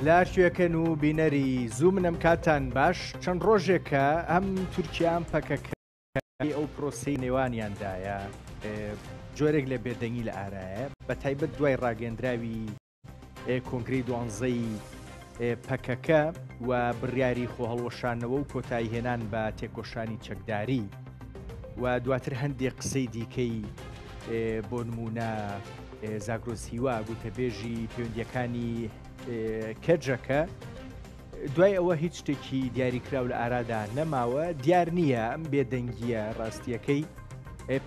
لاشێکن و بینەری زوو منم کاتان باش چەند ڕۆژێکە ئەم تورکیان پەکەکە کاری ئەو پرۆسەی نێوانیاندایە جۆرێک لە بێدەنگی لە ئارایە بە تایبەت دوای ڕاگەندراوی کۆنگری دوانزەی پەکەکە و بڕیاری خۆ هەڵوەشانەوە و کۆتایی هێنان بە تێکۆشانی چەکداری و دواتر هەندێک قسەی دیکەی بۆ نمونە زاگرۆسیوا گوتەبێژی پەیوەندیەکانی کەجەکە دوای ئەوە هیچ شتێکی دیاریکراو لە ئارادا نەماوە دیار نییە ئەم بێدەنگیە ڕاستیەکەی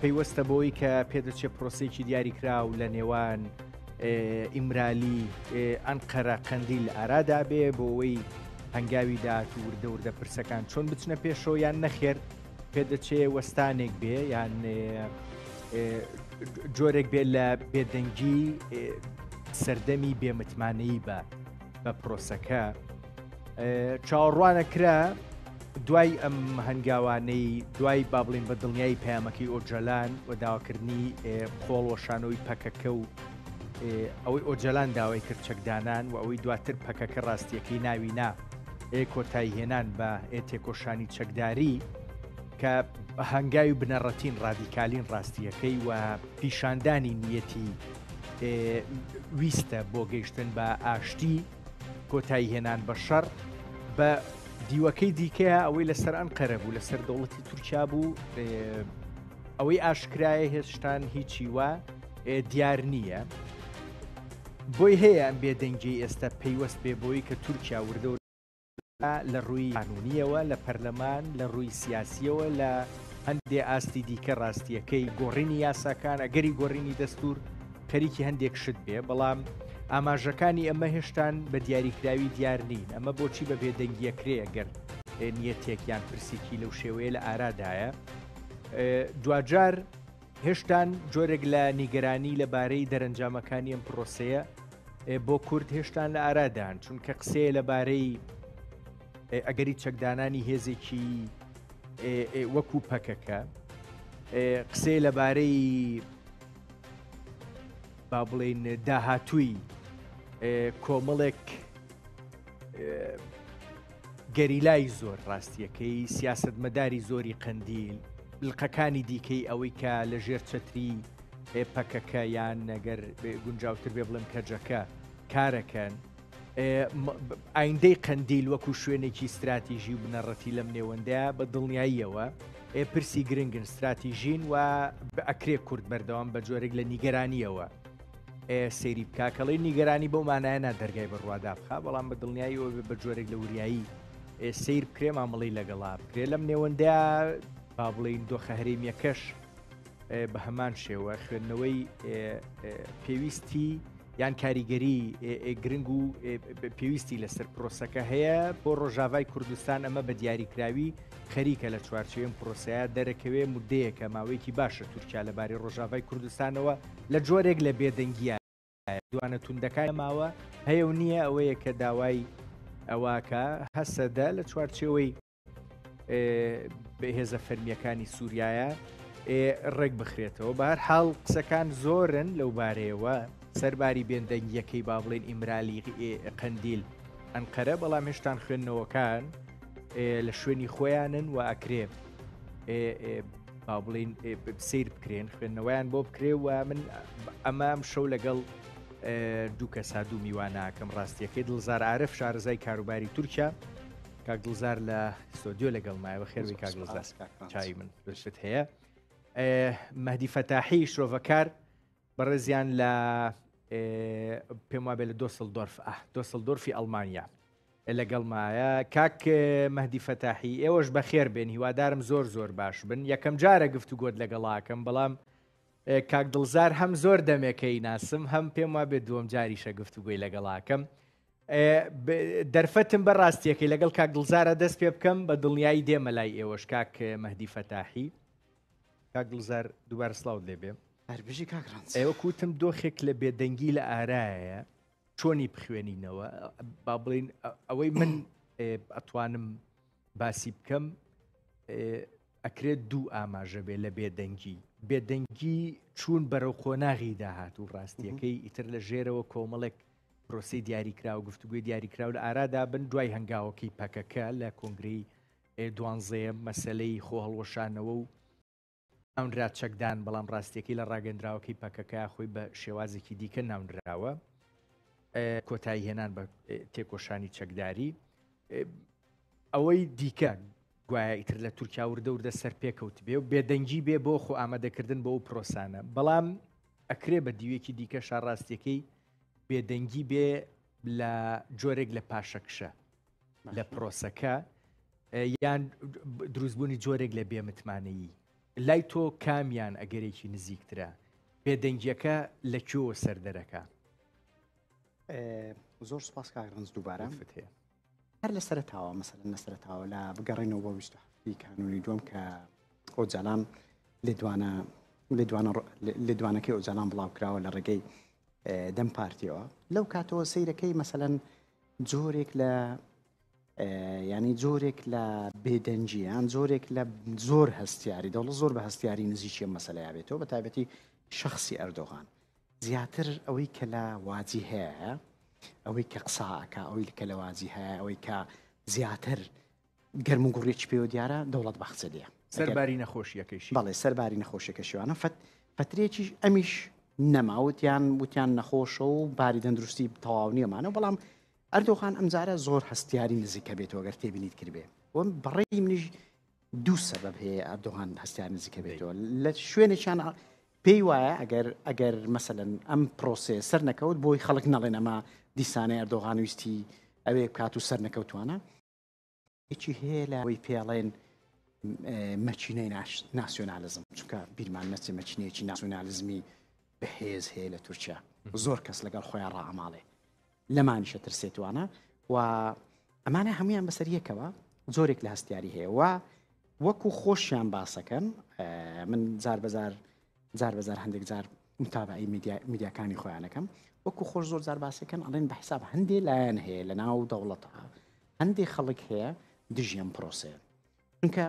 پەیوەستە بۆی کە پێدەچێت پرۆسێکی دیاریکراو لە نێوان ئیمرالی ئەنقەرە قەندیل ئارادا بێ بۆەوەی هەنگاوی داات و وردە وردە پرسەکان چۆن بچنە پێشەوە یان نەخێر پێدەچێ وەستانێک بێ یان جۆرێک بێت لە بێدەنگی سەردەمی بێمتمانەی بە بە پرۆسەکە چاوەڕوانە کرا دوای ئەم هەنگاوانەی دوای با بڵین بە دڵنیایی پەیامەکەی ئۆجەلان و داواکردنی خۆڵ وەشانەوەی پەکەکە و ئەوەی ئۆجەلان داوای کرد چەکدانان و ئەوەی دواتر پەکەکە ڕاستیەکەی ناوی نا کۆتایی هێنان بە تێکۆشانی چەکداری کە هەنگاوی بنەڕەتین ڕادیکالین ڕاستیەکەی و پیشاندانی نیەتی ویستە بۆ گەیشتن بە ئاشتی کۆتایی هێنان بە شەڕ بە دیوەکەی دیکەیە ئەوەی لەسەر ئەن قەرە بوو لەسەر دەوڵەتی تورکیا بوو ئەوەی ئاشکرایە هێشتان هیچی وە دیار نییە بۆی هەیە ئەم بێدەنگی ئێستا پەیوەست بێ بۆی کە تورکیا وردە لە ڕووی قانوونییەوە لە پەرلەمان، لە ڕووی سیاسییەوە لە هەندێ ئاستی دیکە ڕاستییەکەی گۆڕینی یاساکان، ئەگەری گۆڕینی دەستوور خەریکی هەندێک شت بێ، بەڵام ئاماژەکانی ئەمە هێشتان بە دیاریکراوی دیار نین، ئەمە بۆچی بە بێدەنگییە کرێ گەر نیەتێک یان پرسیکی لەو شێوەیە لە ئارادایە دواجار هێشتان جۆرێک لە نیگەرانی لە بارەی دەرەنجامەکانی ئەم پرۆسەیە بۆ کورد هێشتان لە ئارادان چونکە قسەیە لە بارەی ئەگەری چەکدانانی هێزێکی وەکو پەکەکە قسەی لەبارەی با بڵین داهاتووی کۆمەڵێک گەریلای زۆر ڕاستیەکەی، سیاسەتمەداری زۆری قەندیل، بلقەکانی دیکەی ئەوەی کە لە ژێر چەتری پەکەکە یان نەگەر گونجاوتر بێ بڵێم کەجەکە کارەکەن، ئایندەی قەندیل وەکو شوێنێکی استراتیژی و بنەڕەتی لەم نێوەندە بە دڵنیاییەوە پرسی گرنگن استراتیژین و بەئەکرێ کورد بەردەوام بە جۆرێک لە نیگەرانیەوە سەیری بکە کەڵی نیگەرانی بەو مانایە نا دەرگای بەڕوادا بخە بەڵام بە دڵنیایی ئەوێ بە جۆرێک لە وریایی سیر بکرێ مامەڵی لەگەڵا بکرێ لەم نێوەندە با بڵین دۆخە هەرێمیەکەش بە هەمان شێوە خوێندنەوەی پێویستی یان کاریگەری گرنگ و پێویستی لەسەر پرۆسەکە هەیە بۆ ڕۆژاوای کوردستان ئەمە بە دیاریکراوی خەریکە لە چوارچێن پرۆسەیە دەرەکەوێ مدەیەکە ماوەیەکی باشە تورکیا لەبارەی ڕۆژاوای کوردستانەوە لە جۆرێک لە بێدەنگییە دوانە توندەکانی نەماوە، هەیە و نییە ئەوەیە کە داوای ئەوەکا هەسەدە لە چوارچێوەی هێزە فەرمییەکانی سووریایە ڕێکبخرێتەوە. بە هەرحاڵ قسەکان زۆرن لەو بارەیەوە، سەرباری بێدەنگییەکەی با بڵێین ئیمرالی قەندیل ئەنقەرە، بەڵام هێشتان خوێندنەوەکان لە شوێنی خۆیانن و ئەکرێ با بڵین سیر بکرێن خوێندنەوەیان بۆ بکرێ و من ئەمام شەو لەگەڵ دوو کە سا دوو میواناکەم ڕاستیەکەی دڵزار عرف شارزای کاروباری تورکیا کاک دڵزار لە سۆدیۆ لەگەڵ مایەوە خێروی کاک دڵزار چای من دەشت هەیە مەدی فەتاحی شرۆڤەکار بەڕێزیان لە پێم وابێ لە دۆسل دۆرف ئە دۆسل دۆرفی ئەلمانیا لەگەڵ مایە کاک مەدی فەتاحی ئێوەش بە خێر بێن هیوادارم زۆر زۆر باش بن یەکەم جارە گفت و گۆت لەگەڵاکەم بەڵام کاک دڵزار هەم زۆر دەمێکەی ناسم هەم پێم وا بێ دووەم جاریشە گفت و گوی لەگەڵاکەم دەرفەتم بە ڕاستیەکەی لەگەڵ کاک دڵزارە دەست پێ بکەم بە دڵنیایی دێمە لای ئێوەش کاک مەدی فەتاحی کاک گوڵزار دووبارە سڵاوت لێ بێ هەربژی کاک ڕەنج ئێوە کوتم دۆخێک لە بێدەنگی لە ئارایە چۆنی بخوێنینەوە با بڵین ئەوەی من ئەتوانم باسی بکەم ئەکرێت دوو ئاماژە بێ لە بێدەنگی بێدەنگی چوون بەرەو قۆناغی داهات و ڕاستیەکەی ئیتر لە ژێرەوە کۆمەڵێک پرۆسی دیاریکراوە گفتوگوی دیاریکراو لە ئارادا بن دوای هەنگاوەکەی پەکەکە لە کۆنگری دوانزەیەم، مەسەلەی خۆهەڵوەشانەوە و ناونرا چەکدان، بەڵام ڕاستیەکەی لە ڕاگەندراوەکەی پەکەکە خۆی بە شێوازێکی دیکە ناونراوە، کۆتایی هێنان بە تێکۆشانی چەکداری. ئەوەی دیکە گوایە ئیتر لە تورکیا وردە وردە سەر پێکەوت بێ و بێدەنگی بێ بۆ خۆ ئامادەکردن بۆ ئەو پرۆسانە بەڵام ئەکرێ بە دیوێکی دیکە شاڕاستیەکەی بێدەنگی بێ لە جۆرێک لە پاشەکشە لە پرۆسەکە یان دروستبوونی جۆرێک لە بێمتمانەیی لای تۆ کامیان ئەگەرێکی نزیکترە بێدەنگیەکە لە کۆ سەردەرەکە زۆر سپاس کاک ڕنج دووبارە فتێ هەر لە سەرتاوە مەسەر لە سەرتاوە لە بگەڕێنەوە بۆ ویست کانونی دوم کە ئۆجالان لێدوانە لێدوانەکەی ئۆجالان بڵاو کراوە لە ڕێگەی دەم پارتیەوە لەو کاتەوە سیرەکەی مەسەەن جۆرێک لە ینی جۆرێک لە بێدەنجیان جۆرێک لە زۆر هەستیاری دەوڵە زۆر بە هەستیاری نزیکیە مەسلەیا بێتەوە بە تایبەتی شخصی ئەردۆغان زیاتر ئەوەی کە لە واجی هەیە ئەوەی کە قساکە ئەوەی کە لە واجی هەیە ئەوەی کە زیاتر گەرم و گوڕیەکی پێوە دیارە دەوڵەت باخچە لێ سەرباری نەخۆشیەکەیشی بەڵێ سەرباری نەخۆشیەکە شوانە فەت پەترێکیش ئەمیش نەماوتیان وتیان نەخۆشە و باری دەندروستی تەواو نیەمانە بەڵام ئەردۆخان ئەمجارە زۆر هەستیاری نزیکە بێتەوە گەر تێبینیت کردێ وەم بەڕێی منیش دوو سەبەب هەیە ئەردۆغان هەستیان نزیکە بێتەوە لە شوێنێکیان پێی وایە ئەگەر ئەگەر مەسەن ئەم پرۆسێ سەر نەکەوت بۆی خەڵک نەڵێنەما دیسانەی ئەردۆغان ویستی ئەوێ کات و سەر نەکەوتوانە یەکی هەیە لە ئەوەی پێڵێن مەچینەی ناسیۆنالزم چونکە بیرمان نەچێ مەچینەیەکی ناسیۆنالزمی بەهێز هەیە لە تورکیا زۆر کەس لەگەڵ خۆیان ڕاماڵێ لەمانیشە ترسێتوانە و ئەمانە هەمویان بەسەر یەکەوە زۆرێک لە هەستیاری هەیە و وەکو خۆشیان باسەکەن من جار بەزار جار بەزار هەندێک جار متابەعەی میدیا میدیاکانی خۆیان ئەکەم وەکو خۆش زۆر زار باسەکەن ئەڵێن بە حساب هەندێ لایەن هەیە لە ناو دەوڵەتە هەندێ خەڵک هەیە دژیان پرۆسەیە چونکە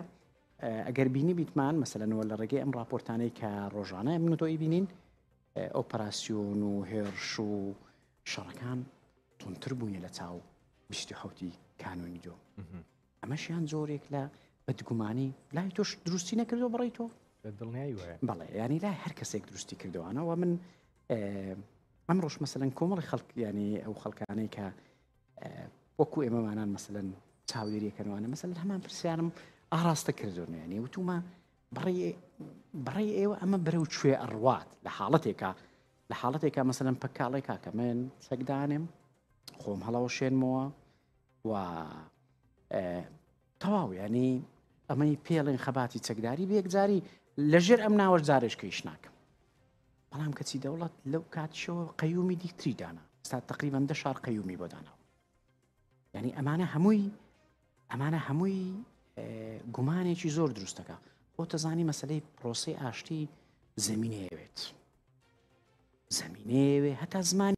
ئەگەر بینی بیتمان مەسەلەنەوە لە ڕێگەی ئەم راپۆرتانەی کە ڕۆژانە من تۆی بینین ئۆپەراسسیۆن و هێرش و شەڕەکان تونتر بوونی لە چاو 1970 کانونی دۆ ئەمەشیان جۆرێک لە بەدگومانی لای تۆش دروستی نەکردو بڕی تۆ دڵنیایی وایە بەڵێ ینی لای هەر کەسێک دروستی کردوانەوە من ئەم ڕۆژ مەسەن کۆمەڵی خەڵک ینی ئەو خەڵکانەی کە وەکو ئێمەمانان مەسەن چاودێریەکەنوانە مەسەن هەمان پرسیارم ئاراستە کردو ینی وتومە بڕی بڕی ئێوە ئەمە بەرەو کوێ ئەڕوات لە حاڵەتێکە لە حاڵەتێکە مەسەن پکاڵێکا کە من سەگدانم خۆم هەڵەوە شێنمەوە و تەواو ینی ئەمەی پێڵێن خەباتی چەکداری بێکجاری لەژێر ئەم ناوەش جارێشکەیش ناکەم بەڵام کەچی دەوڵەت لەو کاتشەوە قەیومی دیکتری دانا ستا تقریبان دە شار قەیومی بۆ داناوە ینی ئەمانە هەمووی ئەمانە هەمووی گومانێکی زۆر دروستەکە بۆ تەزانی مەسلەی پرۆسی ئاشتی زمینەیەوێت زمینەیەوێ هەتا زمانی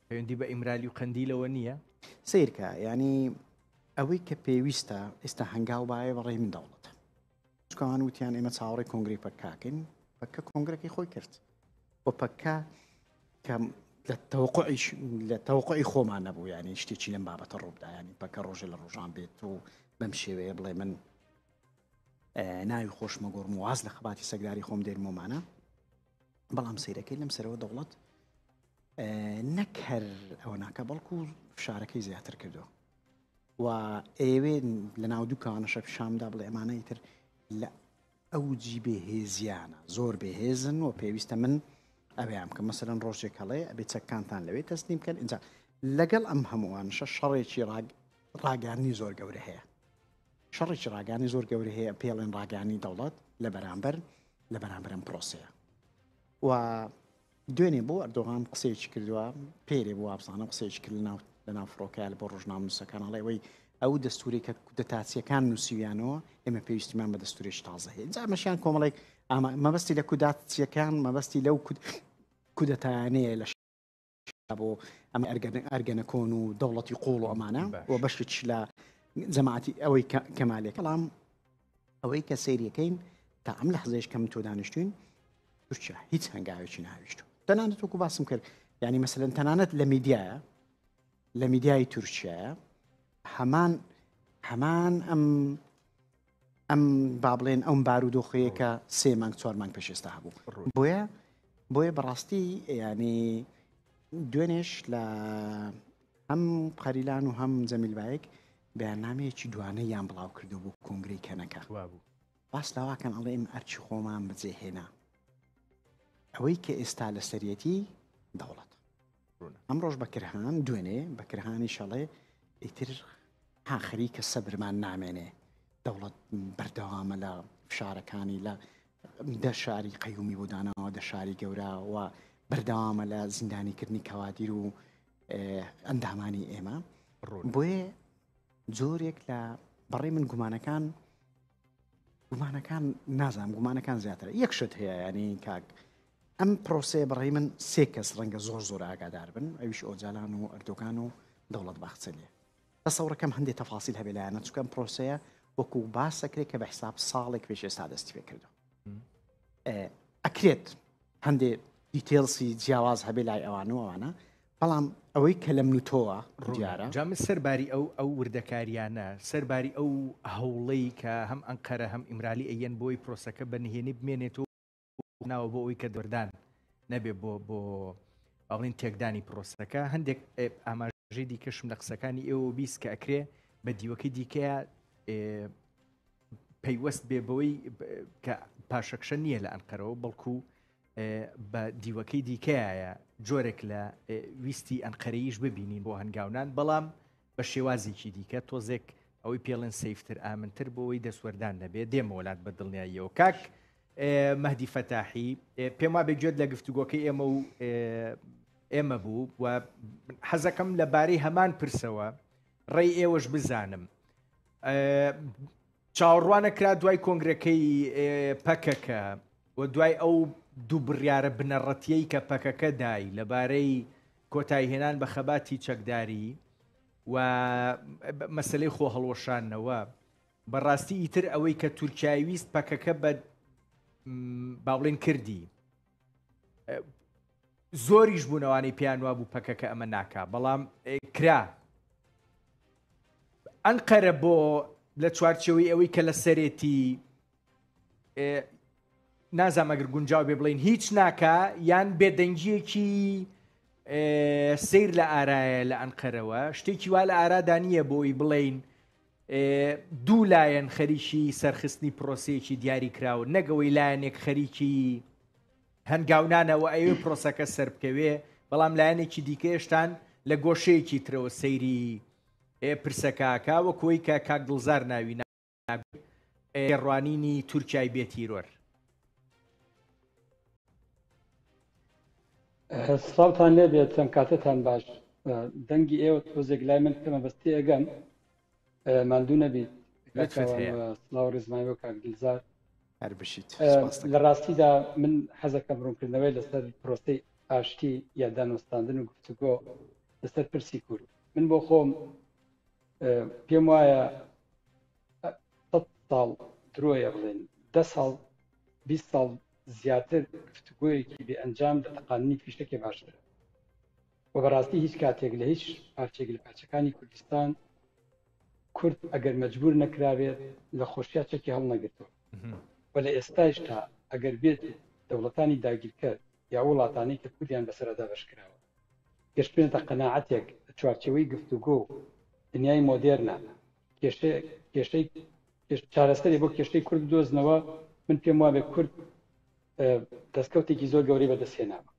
پەیوەندی بە ئیمرالی و قەندیلەوە نییە؟ سەیرکە یانی ئەوەی کە پێویستە ئێستا هەنگاو باە بەڕێ من دەوڵەتە چکان وتیان ئێمە چاوەڕی کۆنگری پەکاکەین پەکە کۆنگرەکەی خۆی کرد و پەکە کە لە تەوقعیش لە تەوقعی خۆمان نەبوو یانی شتێکی لەم بابەتە ڕوودایانی پەکە ڕۆژێ لە ڕۆژان بێت و بەم شێوەیە بڵێ من ناوی خۆشمە گۆڕم واز لە خباتی سەگداری خۆم دێنمۆمانە بەڵام سەیرەکەی لەم سەرەوە دەوڵەت نەک هەر ئەوە ناکە بەڵکو فشارەکەی زیاتر کردو و ئێوێ لە ناو دووکانەشە پیشامدا بڵێ ئەمانەی تر لە ئەو جی بێهێزیانە زۆر بێهێزن و پێویستە من ئەویان کە مەسەرەن ڕۆژێک هەڵێ ئەبێ چەکانتان لەوێ تەسلیم بکەن اینجا لەگەڵ ئەم هەمووانشە شەڕێکی ڕاگەانی زۆر گەورە هەیە شەڕێکی ڕاگەانی زۆر گەورە هەیە پێڵێن ڕاگەانی دەوڵەت لە بەرامبەر لە بەرامبەر ئەم پرۆسەیە و دوێنێ بۆ ئەردۆغان قسەیەکی کردووە پێرێ بۆ وابزانم قسەیەکی کرد لەناو لەناو فڕۆکەیان بۆ ڕژنام نووسەکان هەڵێەوەی ئەو دەستوری کە کودەتاچیەکان نووسیویانەوە ئێمە پێویستیمان بە دەستورێش تازە هەیە جامەشیان کۆمەڵێک ئاما مەبەستی لە کوداتچیەکان مەبەستی لەو کودەتانەیە لە بۆ ئەم ئەرگەنەکۆن و دەوڵەتی قۆڵ و ئەمانە و بەشتش لە جەماعتی ئەوەی کەمالێک کەڵام ئەوەی کە سریەکەین تا ئەم لە حزێش کەم تۆ دانیشتوین تورکیا هیچ هەنگاوێکی ناویشت تەنانەت وەکو باسم کرد ینی مەسەن تەنانەت لە میدیایە لە میدیای تورکیا هەمان هەمان ئەم ئەم با بڵێن ئەم بارودۆخەیە کە سێ مانگ چوار مانگ پێش ئێستا هەبوو بۆیە بۆیە بەڕاستی ینی دوێنێش لە هەم قەریلان و هەم جەمیلبایەک بەیاننامەیەکی دوانە یان بڵاو کردو بوو کۆنگری کەنەکە بوو باس لاواکەن ئەڵێ ئم ئەرچی خۆمان بجێهێنا ئەوەی کە ئێستا لە سەرەتی دەوڵەت ڕوونە. ئەمڕۆش بەکرهان دوێنێ بەکرهانیش ئەڵێ ئیتر ها خەریکە سەبرمان نامێنێ دەوڵەت بەردەوامە لە فشارەکانی لە دە شاری قەیومی بۆ داناوە دە شاری گەوراوە بەردەوامە لە زیندانیکردنی کەوادیر و ئەندامانی ئێمە بۆیە جۆرێک لە بەڕێ من گومانەکان گومانەکان نازام گومانەکان زیاتر یەکشت هەیە ینی کاک ئەم پرۆسەیە بە ڕێی من سێ کەس ڕەنگە زۆر زۆر ئاگادار بن ئەویش ئۆجالان و ئەردۆگان و دەوڵەت باخچەلیە تەسەوڕەکەم هەندێک تەفاسیل هەبێ لایەنە چکەم پرۆسەیە وەکو باسەکرێت کە بە حساب ساڵێک پێش ئێستا دەستی پێ کردو ئەکرێت هەندێ دیتێلسی جیاواز هەبێ لای ئەوان و ئەوانە بەڵام ئەوەی کە لەم نوتۆوە ڕویارە جام سەرباری ئەو ئەو وردەکاریانە سەرباری ئەو هەوڵەی کە هەم ئەنقەرە هەم ئیمرالی ئەیەن بۆی پرۆسەکە بە نهێنی بمێنێت و ناوە بۆ ئەوی کە دەردان نەبێ بۆ بۆ ئەڵین تێکدانی پرۆسەکە هەندێک ئاماژەی دیکەشم لە قسەکانی ئێوە بیست کە ئەکرێ بە دیوەکەی دیکەیە پەیوەست بێ بەوەی کە پاشەکشە نییە لە ئەنقەرەوە بەڵکو بە دیوەکەی دیکەیە جۆرێک لە ویستی ئەنقەرەیش ببینین بۆ هەنگاونان بەڵام بە شێوازێکی دیکە تۆزێک ئەوەی پێڵێن سیفتر ئامنتر بۆەوەی دەسوەردان نەبێ دێمەوەلات بە دڵنیاییەوە کاک مەهدی فەتاحی، پێم وابێ گوێت لە گفتوگۆکەی ئێمە و ئێمە بوو و حەزەکەم لە بارەی هەمان پرسەوە ڕێی ئێوەش بزانم. چاوەڕوانە کرا دوای کۆنگرەکەی پەکەکە و دوای ئەو دوو بڕیارە بنەڕەتیەی کە پەکەکە دای لەبارەی کۆتایهێنان بە خەباتی چەکداری و مەسلەی خۆ هەڵوەشانەوە بەڕاستی ئیتر ئەوەی کە تورکیای ویست پەکەکە بە باڵێن کردی زۆریش بوونەوانی پێیان وا بوو پەکەکە ئەمە ناکا بەڵام کرا ئەنقەرە بۆ لە چوارچەوەی ئەوەی کە لە سەرێتی نازامەگر گونجاو بێ بڵین هیچ ناکە یان بێدەنگیەکی سیر لە ئارایە لە ئەنقەرەوە شتێکی وا لە ئارادانە بۆی بڵین دوو لایەن خەریکی سەرخستنی پرۆسەیەکی دیاری کراون نەک ئەوەی لایەنێک خەریکی هەنگاونانە و ئەوێ پرۆسەکە سەر بکەوێ بەڵام لایەنێکی دیکەێشتان لە گۆشەیەکی ترەوە سەیری پرسەکەکە وە کۆی کە کاک دڵزار ناوی ڕوانینی تورکای بێتیرۆر سڵاوتان لێبێت چەند کاتەتان باش دەنگی ئێوە تۆزێک لای من کەمە بەستی ئەگەم ماندوو نەبیت سڵاو ڕزمای وە کاک دلزار هەربشیت لە ڕاستیدا من حەزەکە بڕونکردنەوەی لەسەر پرۆسی ئاشتی یا دانوستاندن و گفتوگۆ لەسەر پرسی کورد من بۆ خۆم پێم وایە سەد ساڵ درۆیە بڵێن دە ساڵ بیست ساڵ زیاتر گفتوگۆیەکی بێ ئەنجام لە تەقاندنی فیشەکێ باشترە و بەڕاستی هیچ کاتێک لە هیچ پارچێک لە پارچەکانی کوردستان کورد ئەگەر مەجبور نەکرابێت لە خۆشیا چەکی هەڵنەگرتووە و لە ئێستاشدا ئەگەر بێت دەوڵەتانی داگیرکەر یا وڵاتانی کە کوردیان بەسەردا بەش کراوە گەشتێنتە قەنەعاتێک چوارچەوەی گفتوگۆ دنیای مۆدێرنە کێشەی کێشەی چارەسەری بۆ کێشەی کورد دۆزنەوە من پێم وابێ کورد دەستکەوتێکی زۆر گەوری بەدەستێناوە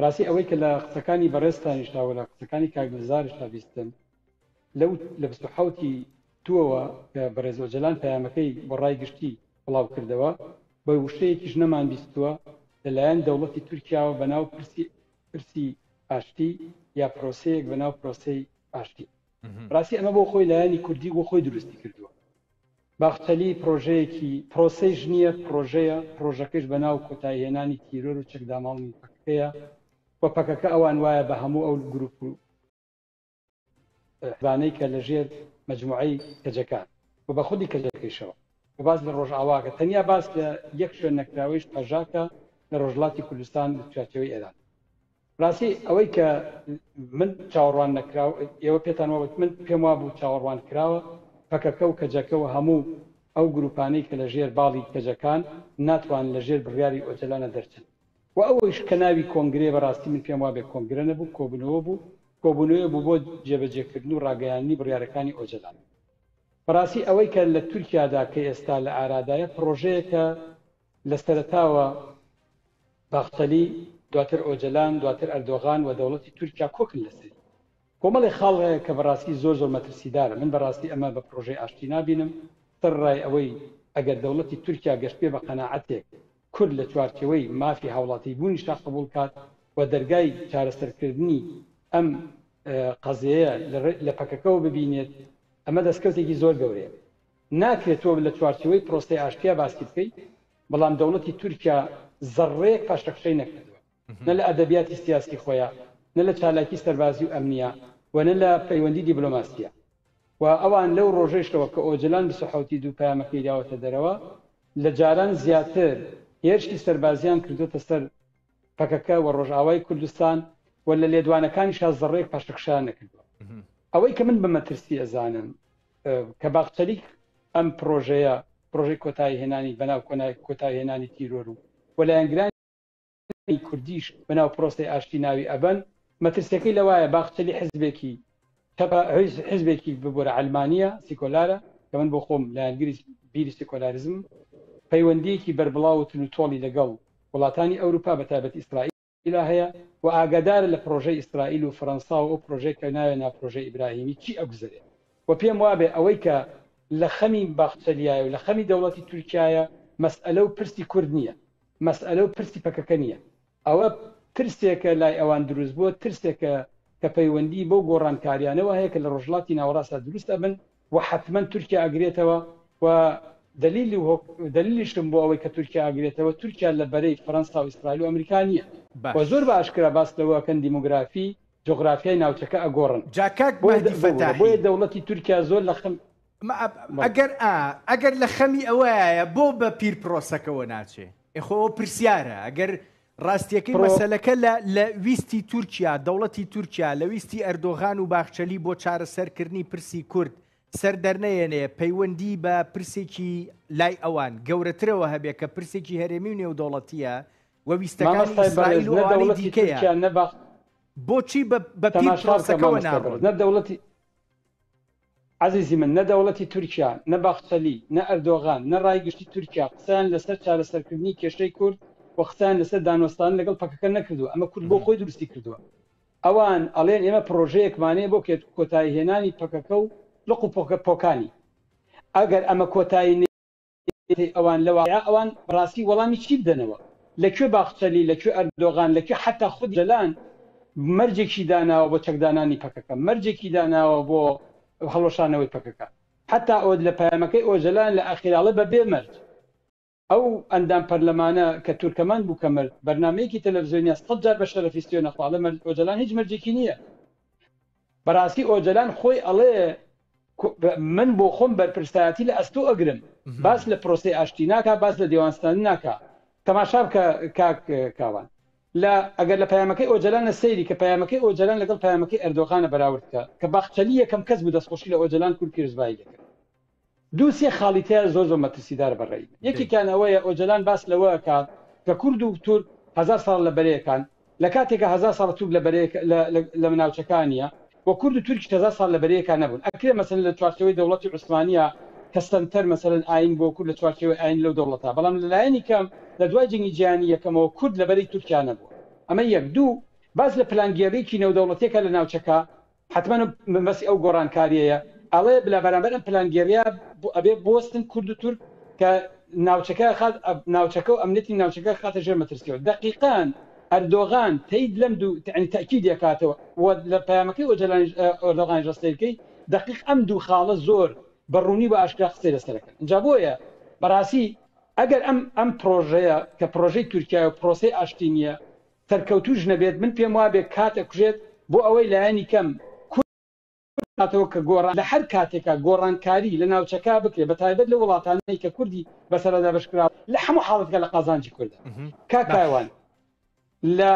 ڕاستی ئەوەی کە لە قسەکانی بەڕێزتانیشاوە لە قسەکانی کاگلزارشا بیستن لەو لە حوتی توەوە کە بەڕێزۆ جەلان پەیامەکەی بۆ ڕای گشتی بڵاو کردەوە بە وشەیەکیش نەمان بیستووە لەلایەن دەوڵەتی تورکیاوە بەناو پرسی پرسی ئاشتی یا پرۆسەیەک بەناو پرۆسی ئاشتی ڕاستی ئەمە بۆ خۆی لایەنی کوردی بۆ خۆی دروستی کردووە باخچەلی پرۆژەیەکی پرۆسەی ژنیە پرۆژەیە پرۆژەکەش بە ناو کۆتای هێنانی تیرۆر و چەکداماڵنی پەکەکەیە و پەکەکە ئەوان وایە بە هەموو ئەو گروپ و حزبانەی کە لە ژێر مجموعەی کەجەکان و بە خودی کەجەکەیشەوە و باز لە ڕۆژئاواکە تەنیا باس لە یەک شوێن نەکراوەیش پەژاکە لە ڕۆژلاتی کوردستان لە چاچەوەی ئێران ڕاستی ئەوەی کە من چاوەڕوان نەکراو ئێوە پێتان وابێت من پێم وابوو چاوەڕوان کراوە پەکەکە و کەجەکە و هەموو ئەو گروپانەی کە لە ژێر باڵی کەجەکان ناتوان لە ژێر بڕیاری ئۆجەلانە دەرچن و ئەوەیش کە ناوی کۆنگرەیە بەڕاستی من پێم وابێت کۆنگرە نەبوو کۆبوونەوە بوو کۆبوونەوە بوو بۆ جێبەجێکردن و ڕاگەیاندنی بڕیارەکانی ئۆجەلان بەڕاستی ئەوەی کە لە تورکیادا کە ئێستا لە ئارادایە پڕۆژەیەکە لە سەرەتاوە باخچەلی، دواتر ئۆجەلان، دواتر ئەردۆغان و دەوڵەتی تورکیا کۆکن لەسەری. کۆمەڵێ خاڵ هەیە کە بەڕاستی زۆر زۆر مەترسیدارە، من بەڕاستی ئەمە بە پڕۆژەی ئاشتی نابینم، سەرڕای ئەوەی ئەگەر دەوڵەتی تورکیا گەشتبێ بە قەناعەتێک کورد لە چوارچێوەی مافی هاوڵاتیبوونیشا قبوڵ کات و دەرگای چارەسەرکردنی ئەم قەزێیە لە پەکەکەوە ببینێت، ئەمە دەسکەوتێکی زۆر گەورەیە. ناکرێت تۆ لە چوارچێوەی پرۆسەی ئاشتیا باسی بکەی، بەڵام دەوڵەتی تورکیا زەڕڕەیەک پاشەکشەی نەکردووە نە لە ئەدەبیاتی سیاسی خۆیا نە لە چالاکی سەربازی و ئەمنیا و نە لە پەیوەندی دیبلۆماسیە و ئەوان لەو ڕۆژەیشەوە کە ئۆجەلان بیست و حەوت ی دوو پەیامەکەی داوەتە دەرەوە لە جاران زیاتر هێرشی سەربازیان کردوتە سەر پەکەکە و ڕۆژئاوای کوردستان و لە لێدوانەکانیشا زەڕڕەیەک پاشەکشەیان نەکردووە ئەوەی کە من بە مەترسی ئەزانم کە باخچەلیک ئەم پرۆژەیە پرۆژەی کۆتایی هێنانی بەناو کۆنای کۆتایی هێنانی تیرۆر و وەلایەنگران کوردیش بەناو پرۆسی ئاشتی ناوی ئەبەن مەترسیەکەی لەوایە باخچەلی حزبێکی تەپە حزبێکی ببوورە ئەلمانیا سیکۆلارە کە من بۆ خۆم لایەنگری بیری سیکۆلارزم پەیوەندیەکی بەربڵاو و تلوتۆڵی لەگەڵ وڵاتانی ئەوروپا بە تایبەت ئیسرائیل ئیلا هەیە و ئاگادارە لە پرۆژەی ئیسرائیل و فەرەنسا و ئەو پرۆژەی کە ناوێ نا پرۆژەی ئیبراهیمی چی ئەگوزەرێ و پێم وابێ ئەوەی کە لە خەمی باخچەلیایە و لە خەمی دەوڵەتی تورکیایە مەسئەلە و پرسی کورد نییە مەسئەلە و پرسی پەکەکە نییە ئەوە ترسێکە لای ئەوان دروست بووە ترسێکە کە پەیوەندی بەو گۆڕانکاریانەوە هەیە کە لە ڕۆژهەڵاتی ناوەڕاستدا دروست ئەبن وە حەتمەن تورکیا ئەگرێتەوە و دەلیلی و دەلیلیشم بۆ ئەوەی کە تورکیا ئەگرێتەوە تورکیا لە بەرەی فەرەنسا و ئیسرائیل و ئەمریکا نییە و زۆر بە ئاشکرا باس لەوە ئەکەن دیمۆگرافی جوغرافیای ناوچەکە ئەگۆڕن جا کاک بۆیە مەهدی دە بۆ بۆ فەتاحی بۆیە دەوڵەتی تورکیا زۆر لە خەم مە ئە بەڵێ ئەگەر ئا ئەگەر لە خەمی ئەوەیە بۆ بە پیر پرۆسەکەوە ناچێ ئێ خۆ ئەوە پرسیارە ئەگەر ڕاستیەکەی مەسەلەکە لە لە ویستی تورکیا، دەوڵەتی تورکیا، لە ویستی ئەردۆغان و باخچەلی بۆ چارەسەرکردنی پرسی کورد سەر دەرنەیەنێ پەیوەندی بە پرسێکی لای ئەوان گەورەترەوە هەبێ کە پرسێکی هەرێمی و نێودەوڵەتیە و ویستەکانی ئیسرائیل و ئەوانی دیکەیە. بۆچی بە پیر پرۆسەکەوە ناڕۆن؟ عەزیزی من نە دەوڵەتی تورکیا، نە باخچەلی، نە ئەردۆغان، نە ڕای گشتی تورکیا قسەیان لەسەر چارەسەرکردنی کێشەی کورد و قسەیان لەسەر دانوەستان لەگەڵ پەکەکە نەکردووە، ئەمە کورد بۆ خۆی دروستی کردووە. ئەوان ئەڵێن ئێمە پڕۆژەیەکمانەیە بۆ کۆتاییهێنانی پەکەکە و لق و پۆکانی. ئەگەر ئەمە کۆتایی. ئیدەی ئەوان لە واقیع ئەوان بەڕاستی وەڵامی چی بدەنەوە؟ لە کوێ باخچەلی، لە کوێ ئەردۆغان، لە کوێ حەتا خود جەلان مەرجێکی داناوە بۆ چەکدانانی پەکەکە، مەرجێکی داناوە بۆ هەڵوەشانەوەی پەکەکە؟ حەتا ئۆ لە پەیامەکەی ئۆجەلان لە ئاخیراڵێ بە بێ مەرج. ئەو ئەندام پەرلەمانە کە تورکەمان بوو کە مرد، بەرنامەیەکی تەلەفزیۆنیە سەد جار بە شەرەفی سوێنەخوا ئەڵێ مەرج ئۆجەلان هیچ مەرجێکی نیە. بەراستی ئۆجەلان خۆی ئەڵێ من بۆخۆم بەرپرسایەتی لە ئەستۆ ئەگرم باس لە پرۆسەی ئاشتی ناکا باس لە دێوان ستاندن ناکا تەماشا بکە کاک کاوان لە ئەگەر لە پەیامەکەی ئۆجەلان لە سەیری کە پەیامەکەی ئۆجەلان لەگەڵ پەیامەکەی ئەردۆغانە بەراورد کە کە باخچەلی یەکەم کەس بوو دەستخۆشی لە ئۆجەلان کورد پیرزبایی لێ کرد دوو سێ خاڵی تیا زۆر زۆر مەترسیدارە بە ڕەئی من یەکێکیان ئەوەیە ئۆجەلان باس لەوە ئەکات کە کورد و تورک هەزار ساڵە لە بەرەیەکان لە کاتێکا هەزار ساڵە تورک لە بەرەیەک لە لە ناوچەکانیە و کورد و تورکیش هەزار ساڵ لە بەرەیەکا نەبوون ئەکرێ مەسەلەن لە چوارچێوەی دەوڵەتی عوسمانیە کە سەنتەر مەسەلەن ئایین بووە کورد لە چوارچێوەی ئایین لەو دەوڵەتا بەڵام لە لایەنی کەم لە دوای جەنگی جیهانی یەکەمەوە کورد لە بەرەی تورکیا نەبووە ئەمە یەک دوو باس لە پلانگێڕیی نێودەوڵەتیەکە لە ناوچەکە حەتمەن مەبەستی ئەو گۆڕانکاریەیە ئەڵێ لە بەرامبەر ئەم پلانگێڕیە ئەبێ بوەستن کورد و تورک کە ناوچەکە خات ناوچەکە و ئەمنیەتی ناوچەکە خاتە ژێر مەترسیەوە دەقیقان ئەردۆغان تەید لەم دوو تعنی تاکید یەکاتەوە و لە پەیامەکەی ئۆجەلانیش ئۆردۆغانیش ڕستەیەکەی دەقیق ئەم دوو خاڵە زۆر بە ڕوونی و ئاشکرا قسەی لەسەرەکەن ئینجا بۆیە بەڕاستی ئەگەر ئەم ئەم پرۆژەیە کە پرۆژەی تورکیا و پرۆسەی ئاشتی نییە سەرکەوتووش نەبێت من پێم وابێ کات ئەکوژێت بۆ ئەوەی لایەنی کەم کورد بکاتەوە کە گۆڕان لە هەر کاتێکا گۆڕانکاری لە ناوچەکە بکرێت بە تایبەت لەو وڵاتانەی کە کوردی بەسەرا دابەش کراوە لە هەموو حاڵەتێکا لە قازانجی کوردە کاک کاروان لە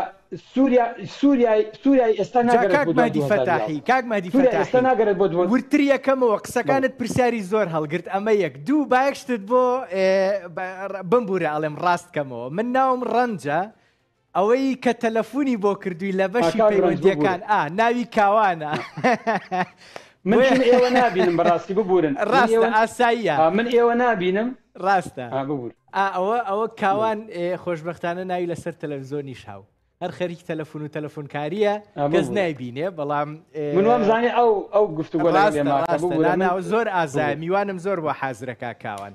سوریا سوریا سوریای ئێستا جا ناگەڕێت بۆ کاک دوای مەهدی دوو هەزار و فەتاحی یازدە کاک مەهدی سوریا ئێستا فەتاحی ناگەڕێت بۆ دوو وردتر یەکەمەوە بەڵێ قسەکانت پرسیاری زۆر هەڵگرت ئەمە یەک دوو با یەک شتت بۆ ئێ بە ڕ بمبورە ئەڵێم ڕاست کەمەوە من ناوم ڕەنجە ئەوەی کە تەلەفونی بۆ کردووی لە بەشی پەیوەندیەکان ئا ناوی کاوانە من ئێوە نبینم بەڕاستی ببورن ڕاستە ئاساییە من ئێوە نبینم ڕاستە ببور ئەوە ئەوە کاوان خۆشببختانە ناوی لەسەر تەلەڤزۆنی شاو هەر خەریکی تەلەفون و تەلەفۆنکاریە گەز نایبینێ بەڵام منوام زانانی ئەو ئەو گفتو زۆر ئازای میوانم زۆر بۆ حازرەکە کاوان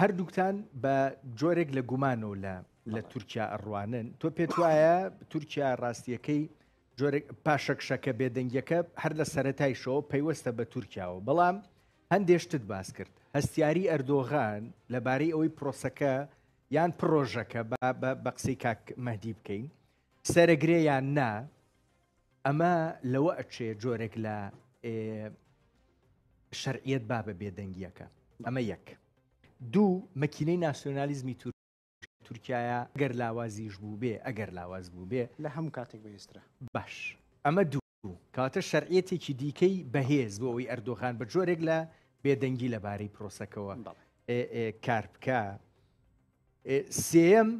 هەردووکتان بە جۆرێک لە گومان و لە لە تورکیا ئەڕوانن تۆ پێت وایە تورکیا ڕاستیەکەی جۆرێک پاشەکشەکە بێدەنگیەکە هەر لە سەتایشەوە پەیوەستە بە تورکیاوە بەڵام هەندێشتت باس کرد هەستیاری ئەردۆغان لەبارەی ئەوەی پرۆسەکە یان پرۆژەکە بە قسەی کاک مەدی بکەین سەرەگرێ یان نا ئەمە لەوە ئەچێ جۆرێک لە شەرعیت با بە بێدەنگیەکە ئەمە یەک دوو مەکینەی ناسیۆنالیزمی تور تورکایە گەر لاوازیش بوو بێ ئەگەر لاواز بوو بێ لە هەموو کاتێک بەێسترا باش ئەمە دوو کاتە شەرعەتێکی دیکەی بەهێز بۆ ئەوی ئەردۆغان بە جۆرێک لە بێدەنگی لەبارەی پرۆسەکەەوە کار بکە سێەم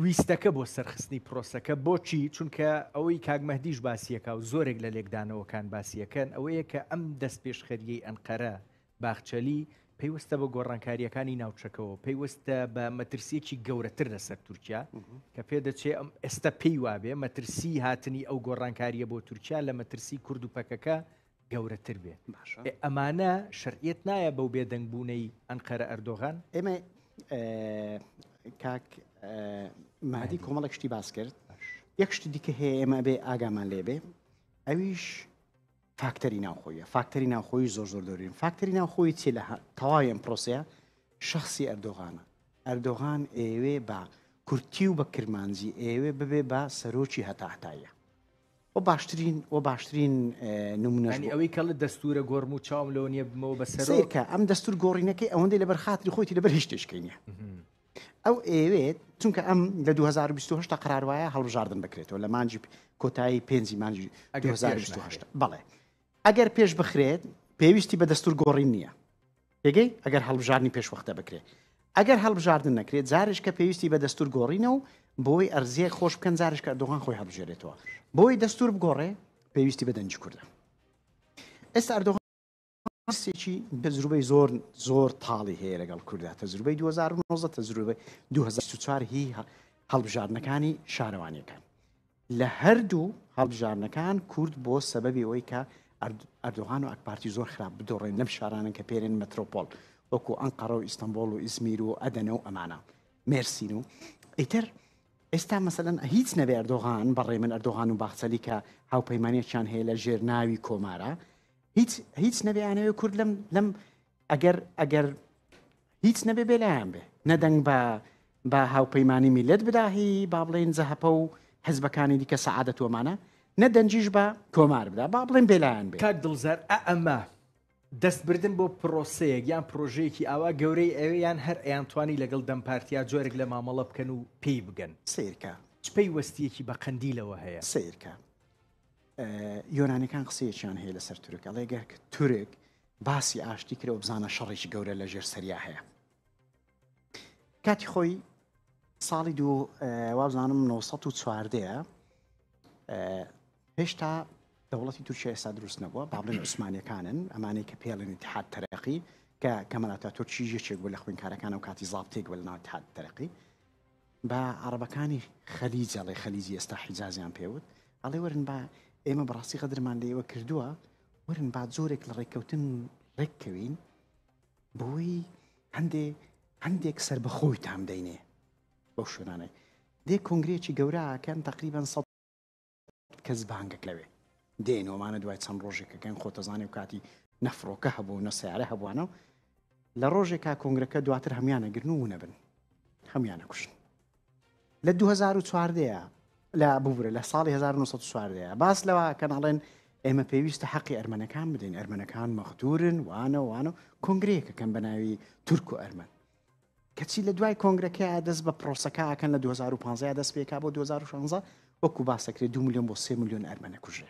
ویستەکە بۆ سەرخستنی پرۆسەکە بۆچی چونکە ئەوەی کاگمەدیش باسیەکە و زۆرێک لە لێکدانەوەکان باسیەکەن ئەوەیە کە ئەم دەست پێشخەریەی ئەنقەرە باخچەلی پێیوەستە بە گۆڕانکاریەکانی ناوچەکەەوە پێیوەستە بە مەترسیەکی گەورەتر لەسەر تورکیا کە پێدەچێ ئەم ئێستا پێی وابێ مەترسی هاتنی ئەو گۆڕانکاریە بۆ تورکیا لە مەترسی کورد و پەکەکە گەورەتر بێت باشە ئێ ئەمانە شەرعیەت نایە بەو بێدەنگ بوونەی ئەنقەرە ئەردۆغان ئێمە ئێ، کاک ئێ، مادی کۆمەڵێک شتی باس کرد باش یەک شتی دیکە هەیە ئێمە بێ ئاگامان لێبێ ئەویش فاکتەری ناوخۆیە فاکتەری ناوخۆی زۆر زۆر دەورین فاکتەری ناوخۆی چی لە هە- تەواوی ئەم پرۆسەیە شخصی ئەردۆغانە ئەردۆغان ئێوێ بە کورتی و بە کرمانجی ئێوێ ببێ بە سەرۆکی هەتا هەتایە وە باشترین وە باشترین نمونەش بوو. یانی ئەوەی کە ئەڵێ دەستوورە گۆڕم و چاوم لەوە نییە ببمەوە بە سەرۆک. سەیر کە ئەم دەستوور گۆڕینەکەی ئەوەندەی لەبەر خاتری خۆیتی لەبەر هیچ شتێشکەی نییە. ئەو ئەیەوێت چونکە ئەم لە 2020 تا قرار وایە هەڵبژاردن بکرێتەوە لە مانجی کۆتایی پێنجی مانجی 2020 بەڵێ ئەگەر پێش بخرێت پێویستی بە دەستور گۆڕین نییە پێگەی ئەگەر هەڵبژارنی پێشوەختە بکرێت ئەگەر هەڵبژاردن نەکرێت زارش کە پێویستی بە دەستور گۆڕینە و بۆی ئەرزیە خۆش بکەن زارش کە ئەردۆغان خۆی هەڵبژێرێتەوە بۆی دەستور بگۆڕێ پێویستی بە دەنجی کوردە ئێستا ئەردۆغان سێکی تەجروبەی زۆر زۆر تاڵی هەیە لەگەڵ کووردا تەجروبەی 2009 تەجروبە 2024 هی هەڵبژاردنەکانی شارەوانیەکان لە هەردوو هەڵبژاردنەکان کورد بۆ سەبەبی ئەوەی کە ئەردۆغان و ئەکپارتی زۆر خراپ بدۆڕێن لەم شارانن کە پێرێن مەترۆپۆل وەکو ئەنقەڕە و ئیستانبول و ئیزمیر و ئەدەنە و ئەمانە مێرسین و ئیتر ئێستا مەسەن هیچ نەبێ ئەردۆغان بەڕێ من ئەردۆغان و باخچەلی کە هاوپەیمانەتیان هەیە لە ژێر ناوی کۆمارە هیچ هیچ نەبێیانەوێ کورد لەم لەم ئەگەر ئەگەر هیچ نەبێ بێلایەن بێ نەدەنگ بە بە هاوپەیمانانی میلەت بداهی با بڵێن زەهپە و حزبەکانی دیکە سەعادە تۆمانە نە دەنجیش بە کۆمار بدا با بڵێن بێلایەن بێ کاک دڵزار ئەمە دەستبردن بۆ پرۆسەیەک یان پرۆژەیەکی ئاوا گەورەی ئەوێ یان هەر ئەیانتوانی لەگەڵ دەمپارتیا جۆرێک لە مامەڵە بکەن و پێی بگەن سیرکە چ پەیوەستیەکی بە قەندیلەوە هەیە سیرکە یۆنانیەکان قسەیەکیان هەیە لەسەر تورک ئەڵێ گەر کە تورک باسی ئاشتی کرەوە بزانە شەڕێکی گەورە لە ژێر سەریا هەیە کاتی خۆی ساڵی دوو وابزانم 1940 هێشتا دەوڵەتی تورکیا ئێستا دروست نەبووە بابلن عوسمانەکانن ئەمانەی کە پێڵێنی تحات تەرەقی کە کەمەلاتە تورکی یەکێک بوو لە خوێنکارەکان و کاتی زابتێک بە لەناو تحات تەرەقی با عەڕەبەکانی خەلیج ئەڵێ خەلیجی ئێستا حیجازیان پێوت ئەڵێ وەرن با ئێمە بەڕاستی غەدرمان لە ئێوە کردووە ورن با جۆرێک لە ڕێککەوتن ڕێککەوین بۆی هەندێ هەندێک سربەخۆی تام دەینێ بەو شوێنانێ دێ کۆنگرێکی گەوراکەن تقریبان سە کەس بانگەک لەوێ دێن ومانە دوای چەند ڕۆژێکەکەن خۆتەزانێ و کاتی نەفرۆکە هەبوو نە سیارە هەبووانە و لە ڕۆژێکا کۆنگرەکە دواتر هەمویانە گرن و نەبن هەمویانە کوشن لە 2014 لە ببورە لە ساڵی 1940 باس لەوە کەناڵێن ئێمە پێویستە حەقی ئەرمەنەکان بدەین ئەرمەنەکان مەختورن وانە وانە کۆنگرەیەکەکەم بە ناوی تورک و ئەرمەن کەچی لە دوای کۆنگرەکەیا دەست بە پرۆسەکە ئەکەن لە 2015 دەست پێکا بۆ 2016 وەکو باسەکرێت دو میلیۆن بۆ سێ میلیۆن ئەرمەنە کوژێ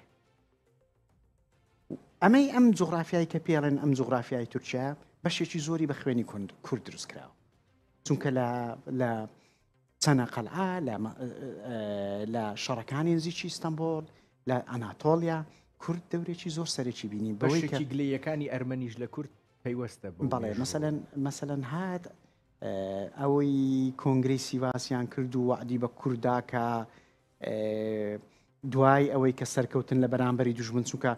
ئەمەی ئەم جغرافیایی کە پێڵێن ئەم جغرافیای تورکیا بەشێکی زۆری بە خوێنی کند کورد دروست کراوە چونکە لە لە چەنە قەلعا لە شەڕەکانی نزیکی ئیستانبول لە ئەناتۆلیا کورد دەورێکی زۆر سەرێکی بینی بەشێکی گلەیەکانی ئەرمەنیش لە کورد پەیوەستە بەو بەڵێ مێژووە. مەسەلەن مەسەلەن هات اه، ئەوەی کۆنگرەی سیڤاسیان کرد و وەعدی بە کورد دا کە اه، دوای ئەوەی کە سەرکەوتن لە بەرامبەری دوژمن چونکە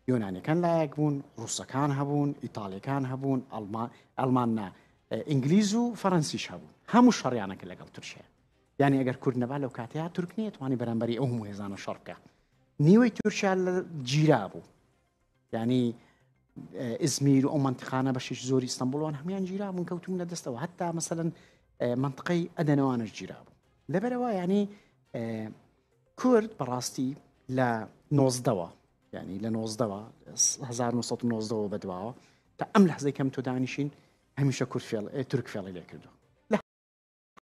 یۆنانیەکان لایەک بوون ڕووسەکان هەبوون ئیتاڵیەکان هەبوون ئەڵمان ئەڵمان نا اه، ئینگلیز و فەرەنسیش هەبوون هەموو شەڕیانە کە لەگەڵ تورکیا یعنی ئەگەر کورد نەبا لەو کاتەیە تورک نیە توانی بەرامبەری ئەو هەموو هێزانە شەڕ بکا نیوەی تورکیا لە گیرا بوو یعنی ئزمیر و ئەو منتقانە بەشیش زۆری ئستەمبولوان هەمان گیرا من کەوتون لە دەستەوە هەتا مەسەن منطقەی ئەدەنەوانش گیرا بوو لەبەرەوە ینی کورد بەڕاستی لە نۆزدەوە ینی لە نۆزدەوە 1990ەوە بەدواوە تا ئەم لە حزەکەم تۆدانیشین هەمیشە کورد فێڵ تورک فێڵی لێ کردو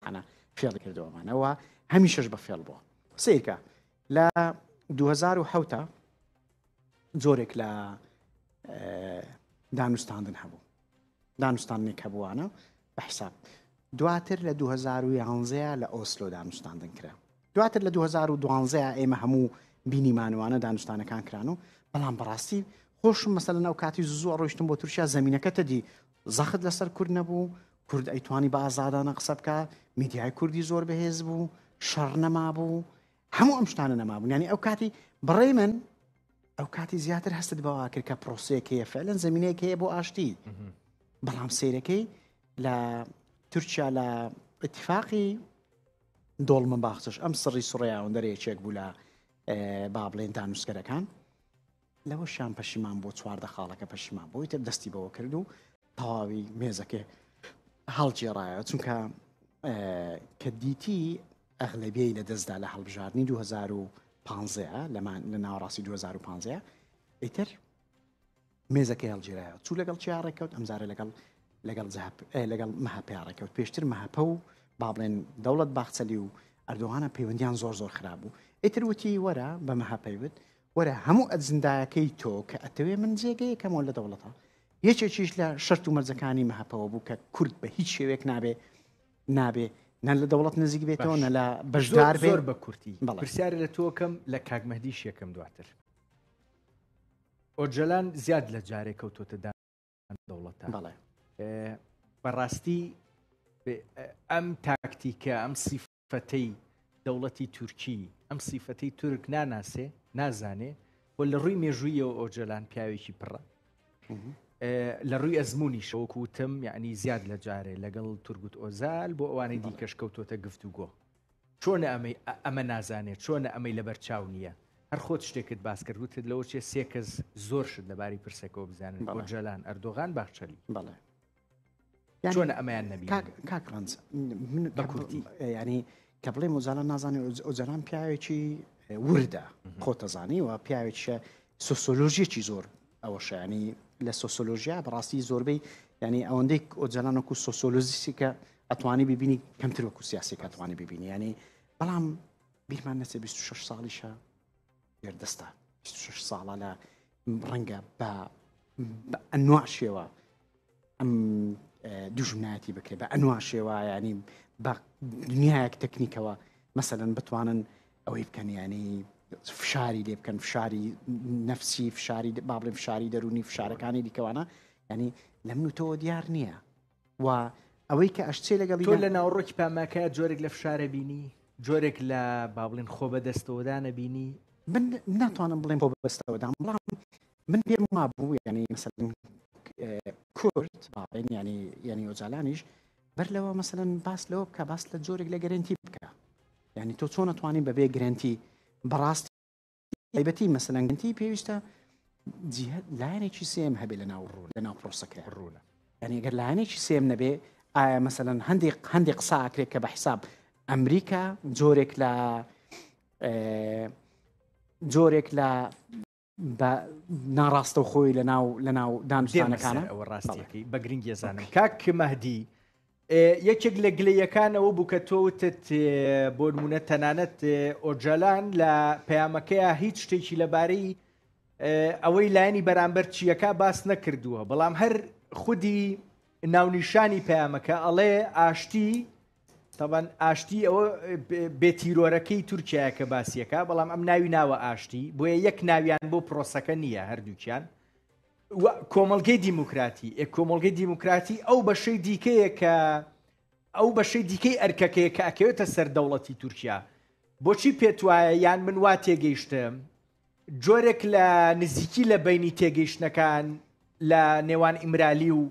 ئەنا فێڵی کردەوەمانەوە هەمیشەش بە فێڵ بووە سیرکە لە 2010 زۆرێک لە دانوستاندن هەبوو دانوستاندنێک هەبووانە بە حساب دواتر لە 2011 لە ئۆسلۆ دانوستاندن کرا دواتر لە 2012 ئێمە هەموو بینیمانوانە دانوستانەکان کران و بەڵام بەڕاستی خۆشم مەسەل ناو کاتی زوو ڕۆشتم بۆ تورکیا زمینینەکەتە دی زەخت لەسەر کورد نەبوو کورد ئەیتوانی بە ئازادانە قسە بکە میدیای کوردی زۆر بەهێز بوو شەڕ نەمابوو هەموو ئەم شتانە نەمابوون ینی ئەو کاتی بڕێ من ئەو کاتی زیاتر هەستت بەوا کرد کە پرۆسەیەک هەیە فعلەن زمینەیەک هەیە بۆ ئاشتی بەڵام سیرەکەی لە تورکیا لە اتفاقی دۆڵ من باخچش ئەم سڕی سڕیاوەندەرەیەکێک بوو لە با بڵێن دانووسکەرەکان لەوەشیان پەشیمان بوو چواردە خاڵەکە پەشیمان بۆی تر دەستی بەوە کرد و تەواوی مێزەکە هەڵگێڕایە چونکە کە دیتی ئەغلبیەی لە دەستدا لە هەڵبژاردننی 2015 لەمان لە ناوەڕاستی 2015 ئیتر مێزەکەی هەڵگیرایە چوو لەگەڵ چیا ڕێککەوت ئەمزارە لەگەڵ لەگەڵ لەگەڵ مەهپیا ڕێککەوت پێشتر مەهپە و با بڵێن دەوڵەت باخچەلی و ئەردوغانە پەیوەندیان زۆر زۆر خراببوو ئیتر وتی وەرە بە مەهپەیوت وەرە هەموو ئەجندایەکەی تۆ کە ئەتەوێ من جێگەیەکەمەوە لە دەوڵەتە یەکێکیش لە شەرت و مەرجەکانی مەهەپەوە بوو کە کورد بە هیچ شێوێک نابێ نابێ نە لە دەوڵەت نزیک بێتەوە نە لە بەشدار بێر بە کورتی پرسیار لە تۆکەم لە کاکمەدی شێکم دواتر ئۆجلان زیاد لە جارێ کەوتۆتەدا دەوڵەت بەڵێ بەڕاستی ئەم تاکتیکە ئەم سیف فەتەی دەوڵەتی تورکی ئەم سیفەتەی تورک ناناسێ نازانێ و لە ڕووی مێژوویەوە ئۆجەلان پیاوێکی پڕە لە ڕووی ئەزمموی شەوەکوتم یعنی زیاد لە جارێ لەگەڵ تورگوت ئۆزال بۆ ئەوانەی دیکەش کەوتۆتە گفت و گۆ چۆنە ئەمەی ئەمە نازانێت چۆنە ئەمەی لەبەر چاو نییە هەر خۆت شتێکت باس کرد وتت لەوە چێ سێکەس زۆر شت لەباری پرسەکەەوە بزانن بۆ جەلان ئەردۆغان باخچەلی بەڵێ چۆن ئەمەیان نەبی کاک ڕنج من بە کوردی ینی کە بڵێ مزانە نازانێ ئۆجلان پیاوێکی وردە خۆتەزانی و پیاوێکە سۆسۆلۆژیەکی زۆر ئەوە شانی لە سۆسۆلۆژیا بەڕاستی زۆربەی ینی ئەوەندەی ئۆجلانەکو سۆسۆلۆزیسیکە ئەتوانی ببینی کەمتر وەکو سیاسی کاتوانی ببینی ینی بەڵام بیرمان نەچێ 26 ساڵیشە گردستان 26 ساڵە لە ڕەنگە بە ئەنوا شێوە ئەم دوژمنایەتی بکرێت بە ئەنوا شێوایانی بە دنیایەک تەکنیکەوە مەسەدەن بتوانن ئەوەی بکەن ینی فشاری لێ بکەن فشاری نەفسی فشاری بابلێ فشاری دەرونی فشارەکانی دیکەوانە ینی لەم نوتەوە دیار نییە و ئەوەی کە ئەشچێ لەگەڵیدا. تۆ لە ناوەڕۆکی پاماکایا جۆرێک لە فشارە بینی؟ جۆرێک لە با بڵێن خۆبەدەستەوەدانە بینی؟ من ناتوانم بڵێم خۆبەستەوەدان، بەڵام من پێم وابوو یانی مەسەلەن کورد با بڵێن یانی یانی ئۆجالانیش بەر لەوە مەسەلەن باس لەوە بکە باس لە جۆرێک لە گەرەنتی بکە یانی تۆ چۆن ئەتوانی بەبێ گرەنتی بەڕاست تایبەتی مەسەلەن گەنتی پێویستە جیهت لایەنێکی سێم هەبێ لە ناو ڕوو لە ناو پرۆسەکرێ ڕوونە یعنی گەر لایەنێکی سێم نەبێ ئایا مەسەەن هەندێک هەندێک قساکرێت کە بە حیساب ئەمریکا جۆرێک لە جۆرێک لە بە ناڕاستە خۆی لە ناو لە ناو دانوستانەکانە ئەوە ڕاستەکەی بە گرنگی زانم کاک مەهدی یەکێک لە گلەییەکان ئەوە بوو کە تۆ وتت بۆ نمونە تەنانەت ئۆجالان لە پەیامەکەیە هیچ شتێکی لەبارەی ئەوەی لایەنی بەرامبەر چیەکە باس نەکردووە بەڵام هەر خودی ناونیشانی پەیامەکە ئەڵێ ئاشتی تەبەن ئاشتی ئەوە بێتیرۆرەکەی تورکایە کە باسیەکە بەڵام ئەم ناوی ناوە ئاشتی بۆیە یەک ناویان بۆ پرۆسەکە نییە هەردووکیان و کۆمەڵگەی دیموکراتی ئێ کۆمەڵگەی دیموکراتی ئەو بەشەی دیکەیە کە ئەو بەشەی دیکەی ئەرکەکەیە کە ئەکەوێتە سەر دەوڵەتی تورکیا بۆچی پێت وایە یان من وا تێگەیشتم جۆرێک لە نزیکی لە بینی تێگەیشتنەکان لە نێوان ئیمرالی و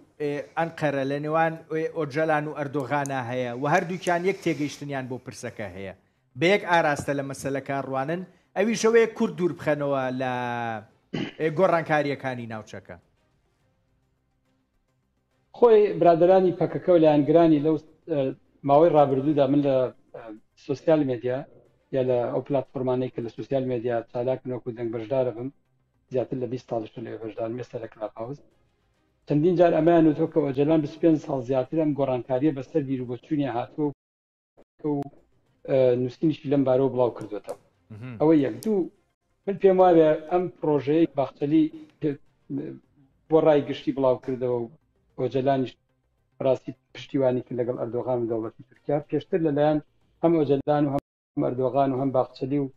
ئەنقەرە لە نێوان ئۆجەلان و ئەردۆغانا هەیە و هەردووکیان یەک تێگەیشتنیان بۆ پرسەکە هەیە بە یەک ئاراستە لە مەسەلەکە ڕوانن، ئەویش ئەوەیە کورد دوور بخەنەوە لە گۆڕانکارییەکانی ناوچەکە. خۆی برادەرانی پەکەکە و لایەنگرانی لەو ماوەی ڕابردوودا من لە سوسیال مێدیا یا لە ئەو پلتفۆرمانەی کە لە سوسیال مێدیا چالاک نۆک و دەنگ بەشدارە بم زیاتر لە 20 ساڵش لێ بەشدار مێستا لە کلاب هاوس چەندین جار ئەمەیان وتۆ کە ئۆجەلان 25 ساڵ زیاتر ئەم گۆڕانکاریە بەسەر بیرو بۆچوونی هاتووە و نووسینیشی لەم بارەوە بڵاو کردوێتەوە ئەوە یەک دوو من پێم وایە ئەم پرۆژەیە باخچەلی بۆ ڕای گشتی بڵاو کردەوە و ئۆجلانیش ڕاستی پشتیوانی کرد لەگەڵ ئەردۆغان و دەوڵەتی تورکیا پێشتر لەلایەن هەم ئۆجلدان و هەم ئەردۆغان و هەم باخچەلی و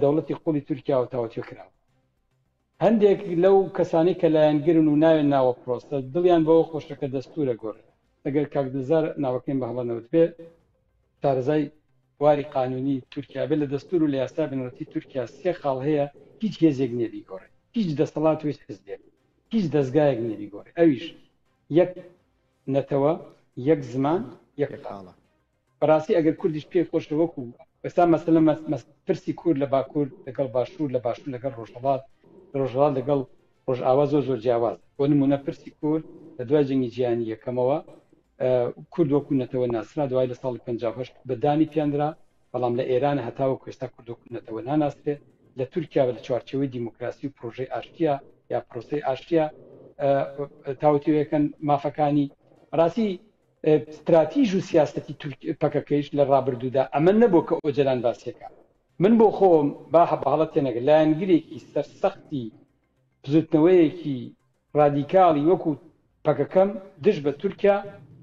دەوڵەتی قوڵی تورکیا و تاوتێ کراوە هەندێک لەو کەسانەی کە لایەنگرن و نایەن ناوە پرۆسە دڵیان بەوە خۆشە کە دەستوورە گۆڕێ ئەگەر کاک دلزار ناوەکەیم بە هەڵە نەوتبێ شارەزای بواری قانوونی تورکیا بێ لە دەستوور و لە یاسای بنەڕەتی تورکیا سێ خاڵ هەیە هیچ هێزێک نییە بیگۆڕێ هیچ دەسەڵات و هیچ حزبێک هیچ دەزگایەک نییە بیگۆڕێ ئەویش یەک نەتەوە یەک زمان یەک خاڵ. بەڕاستی ئەگەر کوردیش پێی خۆشە وەکو ئێستا مەسەلە پرسی کورد لە باکوور لەگەڵ باشوور لە باشوور لەگەڵ ڕۆژهەڵات لە ڕۆژهەڵات لەگەڵ ڕۆژئاوا زۆر زۆر جیاواز بۆ نمونە پرسی کورد لە دوای جەنگی جیهانی یەکەمەوە کورد وەکو نەتەوە ناسرا دوای لە ساڵی 1950 بە دانی پیاندرا بەڵام لە ئێران هەتاوە کوێستا کورد وەکو نەتەوە ناناسرێ لە تورکیا لە چوارچەوەی دیموکراسی و پرۆژەی ئاشتیا یا پرۆسی ئاشتیا تاوتوێکەن مافەکانی ڕاستی ستراتیژ و سیاسەتی تورک پەکەکەیش لە ڕابردوودا ئەمە نەبووە کە ئۆجەلان باسیەکا. من بۆ خۆم با بە هەڵە تێنەگە لایەنگرێکی سەرسەختی بزووتنەوەیەکی ڕادیکاڵی وەکوو پەکەکەم دژ بە تورکیا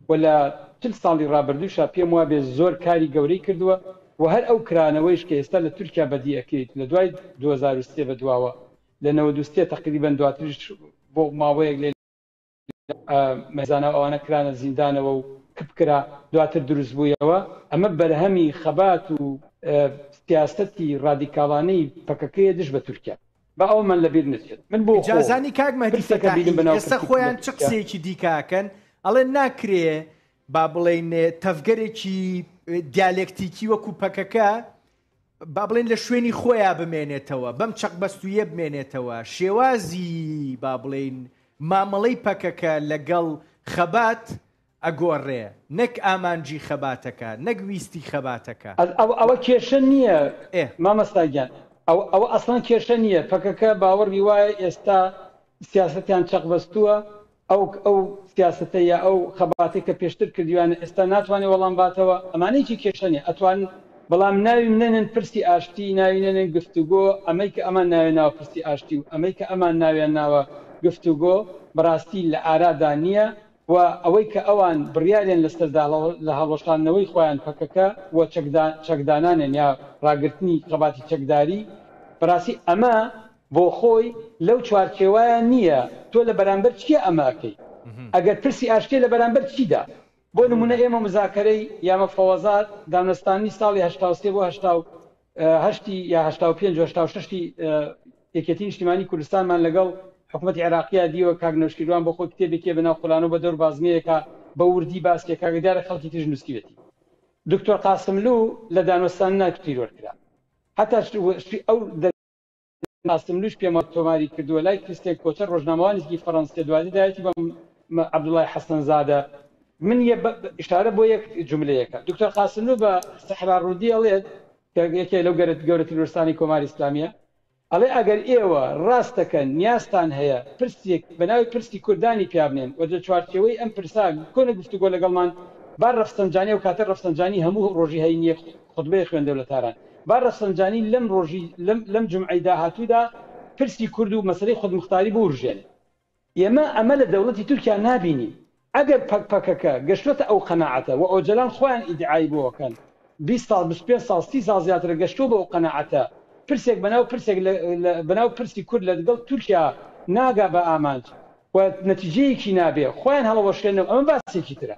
و لە چل ساڵی ڕابردووشا پێم وابێ زۆر کاری گەورەی کردووە و هەر ئەو کرانەوەیش کە ئێستا لە تورکیا بەدی ئەکریت لە دوای دوو هەزار و سێ بە دواوە لە نەوەد و سێ تەقریبەن دواتریش بۆ ماوەیەک مەزانە و ئەوانە کرانە زیندانەوە و کپکرا دواتر دروست بوویەوە ئەمە بەرهەمی خەبات و سیاستی ڕادیکاڵانەی پەکەکەیە دژ بە تورکیا با ئەومان لەبیر نەچێت من بۆ جازانی کاک مەدی ئێستا خۆیان چ قسێکی دیکاکەن ئەڵێ ناکرێ با بڵین تەفگەرێکی دیالکتیکی وەکو پەکەکە با بڵێین لە شوێنی خۆیا بمێنێتەوە، بەم چەقبەستوویە بمێنێتەوە، شێوازی با بڵێین مامەڵەی پەکەکە لەگەڵ خەبات ئەگۆڕێ، نەک ئامانجی خەباتەکە، نەک ویستی خەباتەکە. ئەوە ئەوە کێشە نییە ئێ. مامۆستا گیان، ئەوە ئەوە ئەسڵەن کێشە نییە، پەکەکە باوەڕی وایە ئێستا سیاسەتیان چەقبەستووە، ئەو ئەو سیاسەتە یا ئەو خەباتەی کە پێشتر کردویانە ئێستا ناتوانێ وەڵام باتەوە ئەمانە هیچی کێشە نیە ئەتوانن بەڵام ناویم نەنێن پرسی ئاشتی ناوی نەنێن گفتوگۆ ئەمەی کە ئەمان ناوێ ناوە پرسی ئاشتی و ئەمەی کە ئەمان ناویان ناوە گفتوگۆ بەڕاستی لە ئارادا نیە و ئەوەی کە ئەوان بڕیاریان لەسەردا لە هەڵوەشاندنەوەی خۆیان پەکەکە و چەکدان چەکدانانێن یا ڕاگرتنی خەباتی چەکداری بەڕاستی ئەمە بۆخۆی لەو چوارچێوەیە نییە، تۆ لە بەرامبەر چیا ئەمە ئەکەی؟ ئەگەر پرسی ئاشتییە لە بەرامبەر چیدا؟ بۆ نموونە ئێمە موزاکەرەی یا مفاوەزات، دانوستاندنی ساڵی هەشتا و سێ بۆ هەشتا و هەشت ی یا هەشتا و پێنج و هەشتا و شەش ی یەکێتی نیشتیمانی کوردستانمان لەگەڵ حکومەتی عێراقییا دیوە، کاک نەوشیروان بۆ خۆی کتێبێکیە بە ناو قولانۆ بە دەور بازنەیەکا بە ووردی باسی ئەکا کە دیارە خەڵکی تریش نووسیوێتی. دکتۆر قاسملوو لە دانوستاندنا تیرۆر کرا. هەتا ئەو. قاسملووش پێمان تۆماری کردووە، لای کریستێن کۆتەر ڕۆژنامەوانێکی فەڕەنس کە دواتر دایەتی بە عەبدوڵای حەسەنزادە، من یە بە ئشارە بۆ یەک جوملەیەکە دکتۆر قاسملوو بە سەحرا ڕوودی ئەڵێت کە یەکێ لەو گەرە گەورەترین وەرستانی کۆماری ئیسلامییە ئەڵێ ئەگەر ئێوە ڕاست دەکەن نیازتان هەیە پرسێک بە ناوی پرسی کوردانی پیا بنێن و لە چوارچێوەی ئەم پرسە بکۆنە گفتوگۆ لەگەڵمان با ڕەفسەنجانی ئەو کاتە ڕەفسەنجانی هەموو ڕۆژی هەینییەک خوتبەی خوێندەوە لە تاران با رەفسەنجانی لەم رۆژی لەم لەم جومعەی داهاتوودا پرسی کورد و مەسەلەی خودموختاری بوروژێنێ. ئێمە ئەمە لە دەوڵەتی تورکیا نابینین. ئەگەر پەک پەکەکە گەشتوەتە ئەو قەناعەتە و ئۆجەلان خۆیان ئیدعای بۆ ئەکەن بیست ساڵ بیست و پێنج ساڵ سی ساڵ زیاترە گەشتوە بۆ ئەو قەناعەتە پرسێک بەناو پرسێک لە لە بەناو پرسی کورد لەدگەڵ تورکیا ناگا بە ئامانج و نەتیجەیەکی نابێ خۆیان هەڵەوەشێنەوە ئەمە باسێکی ترە.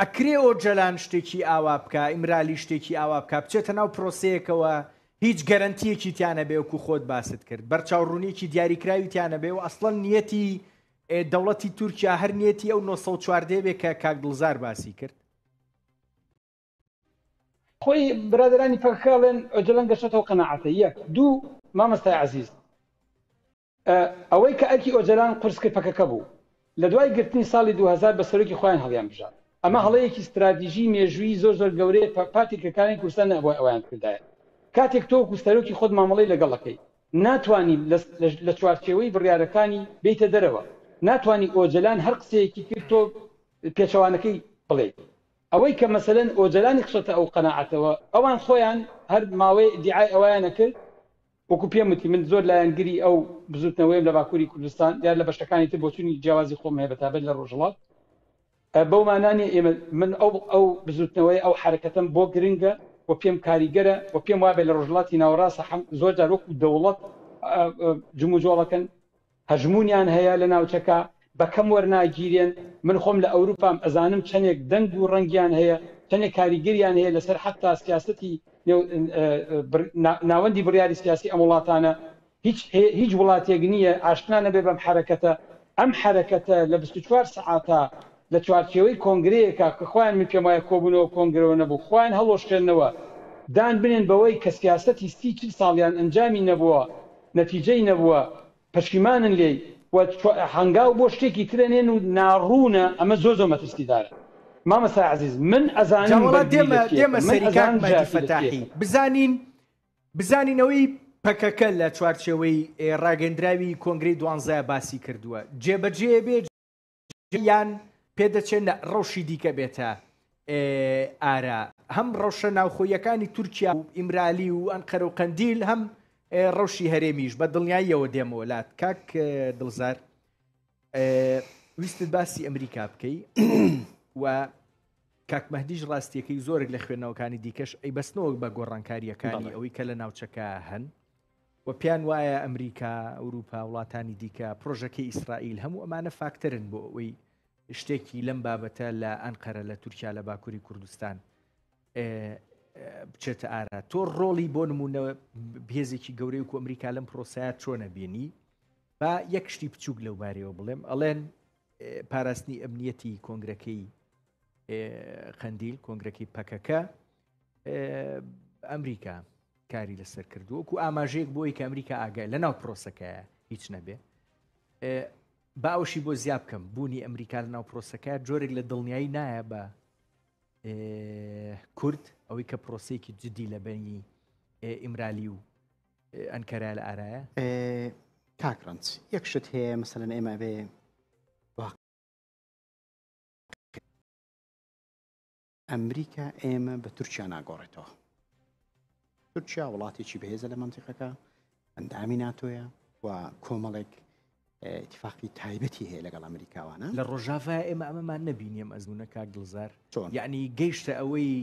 ئەکرێ ئۆجەلان شتێکی ئاوا بکە ئیمرالی شتێکی ئاوا بکە بچێتە ناو پرۆسەیەکەوە هیچ گەرنتیەکی تیانە بێوکو خۆت باست کرد بەرچاوڕونیکی دیاریکراوی تیانە بێ و ئەسڵەن نیەتی دەوڵەتی تورکیا هەر نیەتی ئەو 1940 بێ کە کاک دڵزار باسی کرد خۆی برادرانی پەکخاڵێن ئۆجلەن گەشتەوە قەنەعاتە یەک دوو مامەستای عزیز ئە ئەوەی کە ئەرکی ئۆجەلان قورس کرد پەکەکە بوو لە دوای گرتنی ساڵی دوو هەزار بە سەرۆکی خۆیان هەڵیان بژارد ئەمە هەڵەیەکی ستراتیژی مێژوویی زۆر زۆر گەورەیە پە پارتی کرکانی کوردستان نەئەبوای ئەوەیان کردایە کاتێک تۆ وەکوو سەرۆکی خۆت مامەڵەی لەگەڵ ئەکەی ناتوانی لە لە لە چوارچێوەی بڕیارەکانی بێیتە دەرەوە ناتوانی ئۆجەلان هەر قسەیەکی کرد تۆ پێچەوانەکەی بڵێیت ئەوەی کە مەسەلەن ئۆجەلانی خشەتە ئەو قەناعەتەوە ئەوان خۆیان هەر ماوەی ئیدیعای ئەوەیان ئەکرد وەکو پێم وتی من زۆر لایەنگری ئەو بزوتنەوەیەم لە باکوری کوردستان دیار لە بەشەکانی تر بۆچونی جیاوازی خۆم هەیە بەتابەت لە ڕۆژهەڵات بەو مانا نیە ئێمە من ئەو ئەو بزوتنەوەی ئەو حرەکەتم بۆ گرنگە و پێم کاریگەرە و پێم وابێت لە ڕۆژهڵاتی ناوەڕاست زۆر جار وەکو دەوڵەت جموجۆڵەکەن هەژموونیان هەیە لە ناوچەکە بە کەم وەرناگیرێن من خۆم لە ئەوروپام ئەزانم چەنێک دەنگ و ڕەنگیان هەیە چەنێک کاریگەریان هەیە لەسەر حەتا سیاسەتی ناوەندی بڕیاری سیاسی ئەم وڵاتانە هیچ هیچ وڵاتێک نییە ئاشنا نەبێ بەم حەرەکەتە ئەم حەرەکەتە لە بیست و چوار سەعاتا لە چوارچێوەی کۆنگرەیەکا کە خۆیان من پێم وایە کۆبوونەوە کۆنگرەوە نەبوو خۆیان هەڵوەشێننەوە دان بنێن بەوەی کە سیاسەتی سی چل ساڵیان ئەنجامی نەبووە نەتیجەی نەبووە پەشیمانن لێی و هەنگاو بۆ شتێکی ترە نێن و ناڕوونە ئەمە زۆر زۆر مەترسیدارە مامۆستای عەزیز من ئەزانم بەرگری لە چی ئەکەم من ئەزانم ژاتی لە چی ئەکەم. بزانین بزانین ئەوەی پەکەکە لە چوارچێوەی ڕاگەندراوی کۆنگرەی دوانزە باسی کردووە جێبەجێ بێ، یان پێدەچێت ڕەوشی دیکە بێتە ئارا هەم ڕەوشە ناوخۆیەکانی تورکیا و ئیمرالی و ئەنقەر و قەندیل هەم ڕەوشی هەرێمیش بە دڵنیاییەوە دێمەوەلات کاک دڵزار ویستت باسی ئەمریکا بکەی و کاکمەدیش ڕاستیەکەی زۆرێک لە خوێندنەوەکانی دیکەش ئەی بەستنەوەک بە گۆڕانکاریەکانی ئەوەی کە لە ناوچەکە هەن و پێیان وایە ئەمریکا، ئەوروپا، وڵاتانی دیکە، پڕۆژەکەی ئیسرائیل، هەموو ئەمانە فاکتەرن بۆ ئەوەی شتێکی لەم بابەتە لە ئەنقەرە لە تورکیا لە باکووری کوردستان بچێتە ئارا تۆ ڕۆڵی بۆ نمونە بێزێکی گەورەی و ئەمریکا لەم پرۆسایە چۆنە بینی با یەک شتی بچووک لەو بارەوە بڵێم ئەڵێن پاراستنی ئەمنیەتی کۆنگرەکەی قندیل کۆنگرەکەی پەکەکە ئەمریکا کاری لەسەر کردووە و ئاماژەیەک بۆی کە ئەمریکا ئاگای لە ناو پرۆسەکەیە هیچ نەبێ باوشی بۆ زیاب بکەم بوونی ئەمریکا لە ناو پرۆسەکە جۆرێک لە دڵنیایی نایە بە کورد ئەوەی کە پرۆسەیەکی جدی لە بەنی ئیمرالی و ئەنکەرا لە ئارایە کاکڕنج یەک شت هەیە مەسەن ئێمە بێ ئەمریکا ئێمە بە تورکیا ناگۆڕێتەوە تورکیا وڵاتێکی بەهێزە لە منتیقەکە ئەندامی ناتۆیە و کۆمەڵێک اتفاقی تایبەتی هەیە لەگەڵ ئەمریکاوانە لە ڕۆژاڤە ئێمە ئەمەمان نبینیم ئەزمونە کاک دڵزار چۆن یعنی گەیشتە ئەوەی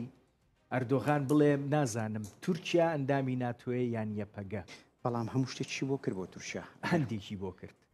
ئەردۆغان بڵێ نازانم تورکیا ئەندامی ناتوێ یان یەپەگە بەڵام هەموو شتێکی بۆ کرد بۆ تورکیا هەندێکی بۆ کرد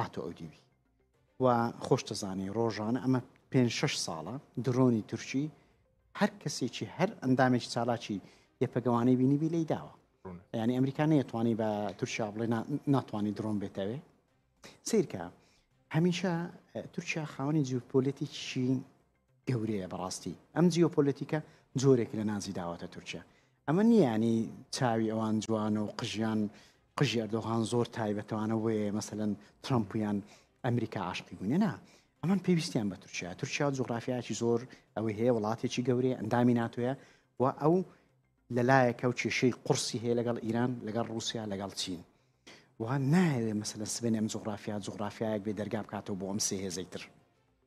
هاتۆ ئەو دیوی و خۆشتەزانی ڕۆژانە ئەمە پێ شش ساڵە درۆنی تورکی هەر کەسێکی هەر ئەندامێکی چالاکی یەپەگەوانەی بینیبی لی داوە ینی ئەمریکا نەیەتوانی بە تورکیا بڵێ ناتوانانی درۆن بێتەوێ سیرکە هەمیشە تورکیا خاوەنی جوپۆلێتیکی گەورەیە بەڕاستی ئەم جیۆپۆلەتیکە جۆرێک لە نازی داوەتە تورکیا ئەمە نیانی چاوی ئەوان جوانە و قژیان قژی ئەردۆغان زۆر تایبەتوانە وەیە مەسەن ترامپیان ئەمریکا عاشقی بوونێ نا ئەمان پێویستیان بە تورکیا تورکیا جوغرافیاکی زۆر ئەوەی هەیە وڵاتێکی گەورەیە ئەندامی ناتوێە و ئەو لەلایەکە و کێشەی قورسی هەیە لەگەڵ ئیران لەگەڵ رووسیا لەگەڵ چین وان ناوێ مەسەن سبێنێم جوغرافیا جوغرافیایەک بێ دەرگا بکاتەوە بۆ ئەم سێهێزەی تر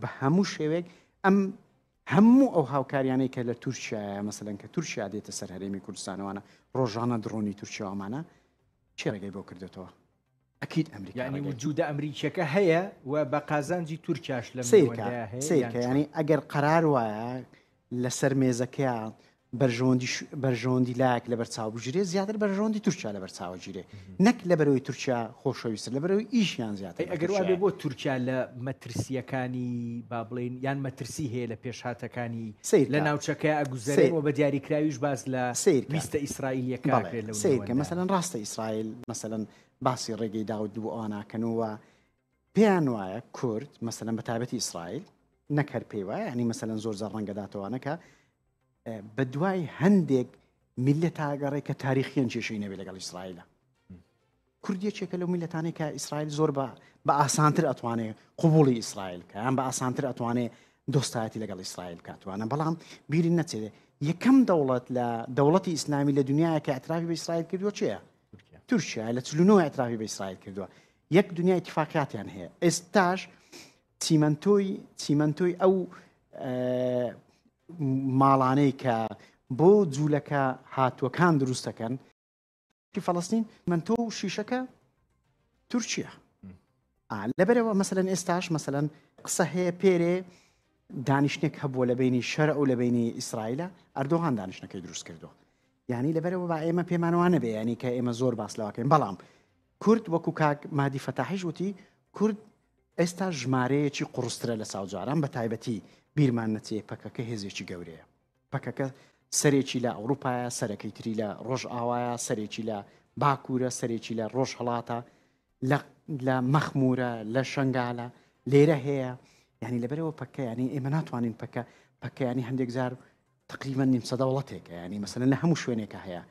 بە هەموو شێوێک ئەم هەموو ئەو هاوکاریانەی کە لە تورکیا مەسەن کە تورکیا دێتە سەر هەرێمی کوردستانەوانە ڕۆژانە دڕۆنی تورکیاوامانە چێ ڕێگەی بۆ کردێتەوە ئەکییت ئەمریکانی وجودە ئەمریکیەکە هەیە و بە قازانجی تورکیاش لە سیرکە ینی ئەگەر قەرار وایە لەسەر مێزەکەیا بەرژەوەندی بەرژەوەندی لایەک لە بەرچاو بژرێ زیاتر بەرژەوەندی تورکیا لە بەرچاوە گیرێ نەک لە بەرەوەی تورکیا خۆشەویست لە بەرەوەی ئیشیان زیاتر ئەگەر وابێ بۆ تورکیا لە مەترسیەکانی با بڵین یان مەترسی هەیە لە پێشهاتەکانی سیر لە ناوچەکە ئەگوزەرێ و بە دیاریکراویش باز لە سیر ویستە ئیسرائیلەکە سیرکە مەسەن ڕاستە ئیسرائیل مەسەن باسی ڕێگەی داود دوو ئەواناکەنەوە پێیان وایە کورد مەسەلەن بە تابەتی ئیسرائیل نەک هەر پێی وایە ئەنی مەسەلەن زۆر زە ڕەنگەداتەوانەکە بە دوای هەندێک میلە تاگەڕێ کە تاریخیان کێشەی نەوێت لەگەڵ ئیسرائیلە کوردیەکێکە لەو میلەتانەی کە ئیسرائیل زۆر بە بە ئاسانتر ئەتوانێ قوبولی ئیسرائیل کە یان بە ئاسانتر ئەتوانێ دۆستایەتی لەگەڵ ئیسرائیل کاتوانە بەڵام بیری نەچێت یەکەم دەوڵەت لە دەوڵەتی ئیسلامی لە دنیاکە ئەتراوی بە ئیسرائیل کردوە چێە تورکیا لە چلو نۆ ئەترافی بە ئیسرائیل کردووە یەک دنیا اتفاقاتیان هەیە ئێستاش چیمەنتۆی چیمەنتۆی ئەو ماڵانەی کە بۆ جوولەکە هاتووەکان دروستەکەن فلسطین من تۆ و شیشەکە تورکیا لەبەرەوە مەسەن ئێستاش مەسەن قسە هەیە پێرێ دانیشتێک هەبووە لە بینی شەر و لە بینی ئیسرائیلە ئەردۆغان دانیشتەکەی دروست کردو یعنی لەبەرەوە با ئێمە پێمانوانە بێ ینی کە ئێمە زۆر باس لەواکەین بەڵام کورد وەکو کاک مادی فەتاحیش وتی کورد ئێستا ژمارەیەکی قڕسترە لە ساوجاران بە تایبەتی بیرمان نەچێ پەکەکە هێزێکی گەورەیە پەکەکە سەرێکی لە ئەوروپایە سەرەکەی تری لە ڕۆژ ئاوایە سەرێکی لە باکوورە سەرێکی لە ڕۆژ هەڵاتە لە مەخمورە لە شنگالە لێرە هەیە ینی لەبەرەوە پەکە ینی ئێمە ناتوانین پەکە پەکەیانی هەندێک جار تقریبا نیم سەدە وڵاتێکە ینی مەسەن لە هەموو شوێنێکە هەیە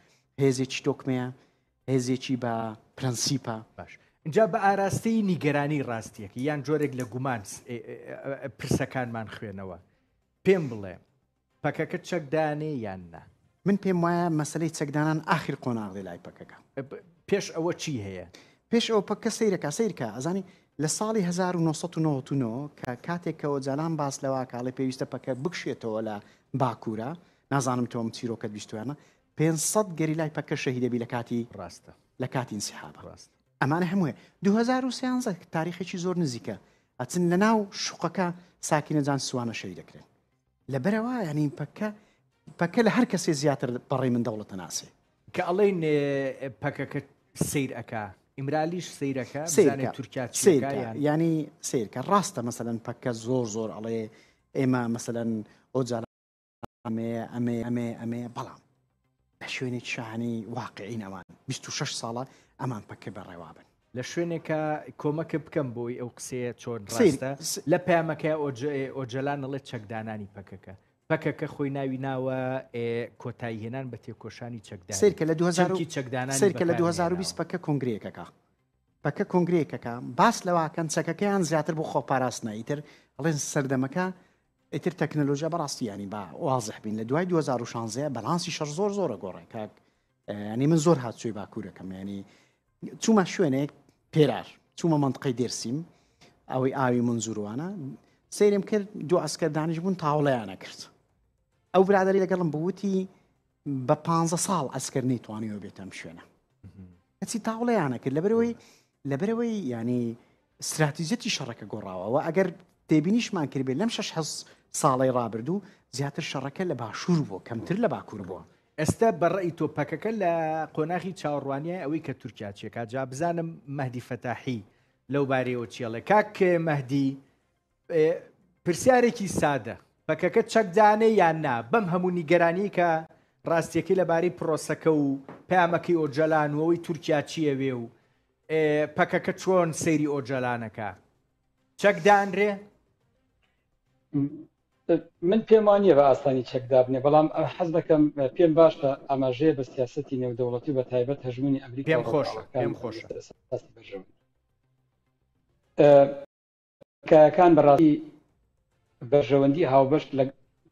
هێزێکی تۆکمەیە هێزێکی بە پرەنسیپە باش جا بە ئاراستەی نیگەرانی ڕاستیەکە یان جۆرێک لە گومان پرسەکانمان خوێنەوە پێم بڵێ پەکەکە چەک دانێ یان نا؟ من پێم وایە مەسەلەی چەکدانان ئاخر قۆناغ دێ لای پەکەکە. پێش ئەوە چی هەیە؟ پێش ئەوە پەککە سەیرەکە سەیرکە ئەزانی لە ساڵی 1999 کە کاتێک کە ئۆجالان باس لەوە کاڵێ پێویستە پەکە بکشێتەوە لە باکوورە نازانم تۆم چیرۆکەت بیستوانە 500 گەری لای پەکە شەهیدەبی لە کاتی ڕاستە لە کاتی انسحاب ڕاست ئەمانە هەمووە 2013 تاریخێکی زۆر نزیکە ئەچن لە ناو شوقەکە ساکینەجان سوانە شەوی دەکرێن لەبەرەوە ینی پەکە پەکە لە هەر کەسێ زیاتر بەڕێ من دەوڵەتە ناسێ کە ئەڵین پەکەکە سیر ئەک ئیمرالیش سیرەکە تورکیا ینی سیرکە ڕاستە مەسەن پەکە زۆر زۆر ئەڵێ ئێمە مەسەن ئۆجار ئەمێ ئەمێ ئەمێ ئەمێ بەڵام شوێنێکی شاهانەی واقعین ئەوان بیست و شەش ساڵە ئەمان پەککە بە ڕێوابن. لە شوێنێکە کۆمەکە بکەم بۆی ئەو قسەیە چۆن ڕاستە لە پامەکە ئۆجەلان نڵێت چەکدانانی پەکەکە پەکەکە خۆی ناوی ناوە کۆتایی هێنان بە تێکۆشانی چەکدان سرکە لە 2000 چەکدان سرکە لە 2020 پەکە کنگرێکەکە پەکە کنگرێکەکە باس لەواکەن چەکەکەیان زیاتر بۆ خۆپاراستنە ئیتر ئەڵێن سەردەمەکە ئیتر تەکنەلۆژیا بەڕاستی یانی با وازح بین لە دوای 2016 بەلانسی شەر زۆر زۆرە گۆڕێ کاک ینی من زۆر هاتچوی باکوورەکەم ینی چوومە شوێنێک پێرار چوومە منطقەی دێرسیم ئەوەی ئاوی منزوروانە سریم کرد دو ئەسکەردانیش بوون تاوڵیانە کرد ئەو برادری لەگەڵم بوتی بە پانزە ساڵ ئەسکەر نەیتوانیوە بێت ئەم شوێنە کەچی تاوڵەیانە کرد لەبەرەوەی لەبەرەوەی ینی استراتیزەتی شەڕەکە گۆڕاوەوە ئەگەر تێبینیشمان کردێ لەم شش حەز ساڵی ڕابردوو زیاتر شەڕەکە لە باشوور بووە کەمتر لە باکوور بووە ئێستا بەڕی تۆ پەکەکە لە قۆناغی چاوەڕوانیای ئەوەی کە تورکیا چێکا جا بزانم مەدی فەتاحی لەو بارەیەوە چێڵێ کاک مەدی پرسیارێکی سادە، پەکەکە چەکدانێ یان نا؟ بەم هەموو نیگەرانیەی کە راستیەکەی لەبارەی پرۆسەکە و پەیامەکەی ئۆجەلان و ئەوەی تورکیا چی ئەوێ و پەکەکە چۆن سەیری ئۆجەلانەکە؟ چەک دانرێ؟ من پێم وانە بە ئاسانی چەک دابنێ بەڵام حەز دەکەم پێم باشە ئاماژەیە بە سیاستی نێودەوڵەتی بە تایبەت هەژمونی ئەمریکا خۆش خۆش. تکایەکان بەڕاستی بەرژەوەندی هاوبەش لە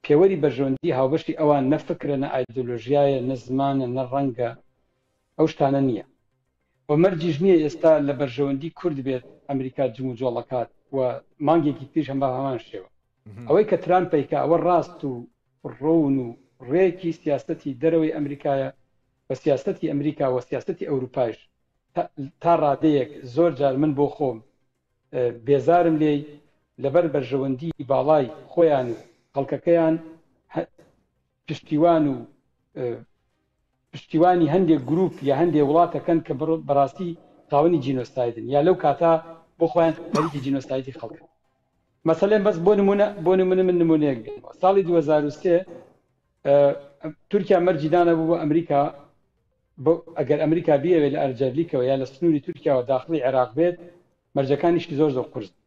پێوەری بەرژەوەندی هاوبەشی ئەوان نە فکرە نە ئایدۆلۆژیایە نە زمانە نە ڕەنگە ئەو شتانە نییە و مەرجیش نییە ئێستا لە بەرژەوەندی کورد بێت ئەمریکا جمو جۆڵەکات و مانگێکی پیش هەم بە هەمان شێوە ئەوەی کە تران پیکە ئەوە ڕاست و ڕۆون و ڕێکی سیاستی دەرەوەی ئەمریکایە و سیاستی ئەمریکا و سیاستی ئەوروپایش تا ڕادەیەک زۆر جار من بۆ خۆم بێزارم لێی لەبەر بەرژەوەندی باڵای خۆیان و خەڵکەکەیان پشتیوان و پشتیوانی هەندێک گروپ یا هەندێ وڵاتەکەن کە بەڕاستی خاوەنی جینۆستایدن یا لەو کاتا بۆ خۆیان خەریکی جینۆستایدی خەڵک مەسلێن بەس بۆ نمونە بۆ نمونە من نمونەیەک بێن ساڵی 2023 تورکیا مەرجی دانەبوو بۆ ئەمریکا بۆ ئەگەر ئەمریکا بیەوێت لە ئەرجەرلیکەوە یا لە سنووری تورکیاوە داخڵی عێراق بێت، مەرجەکانیشی زۆر زۆر قورسن.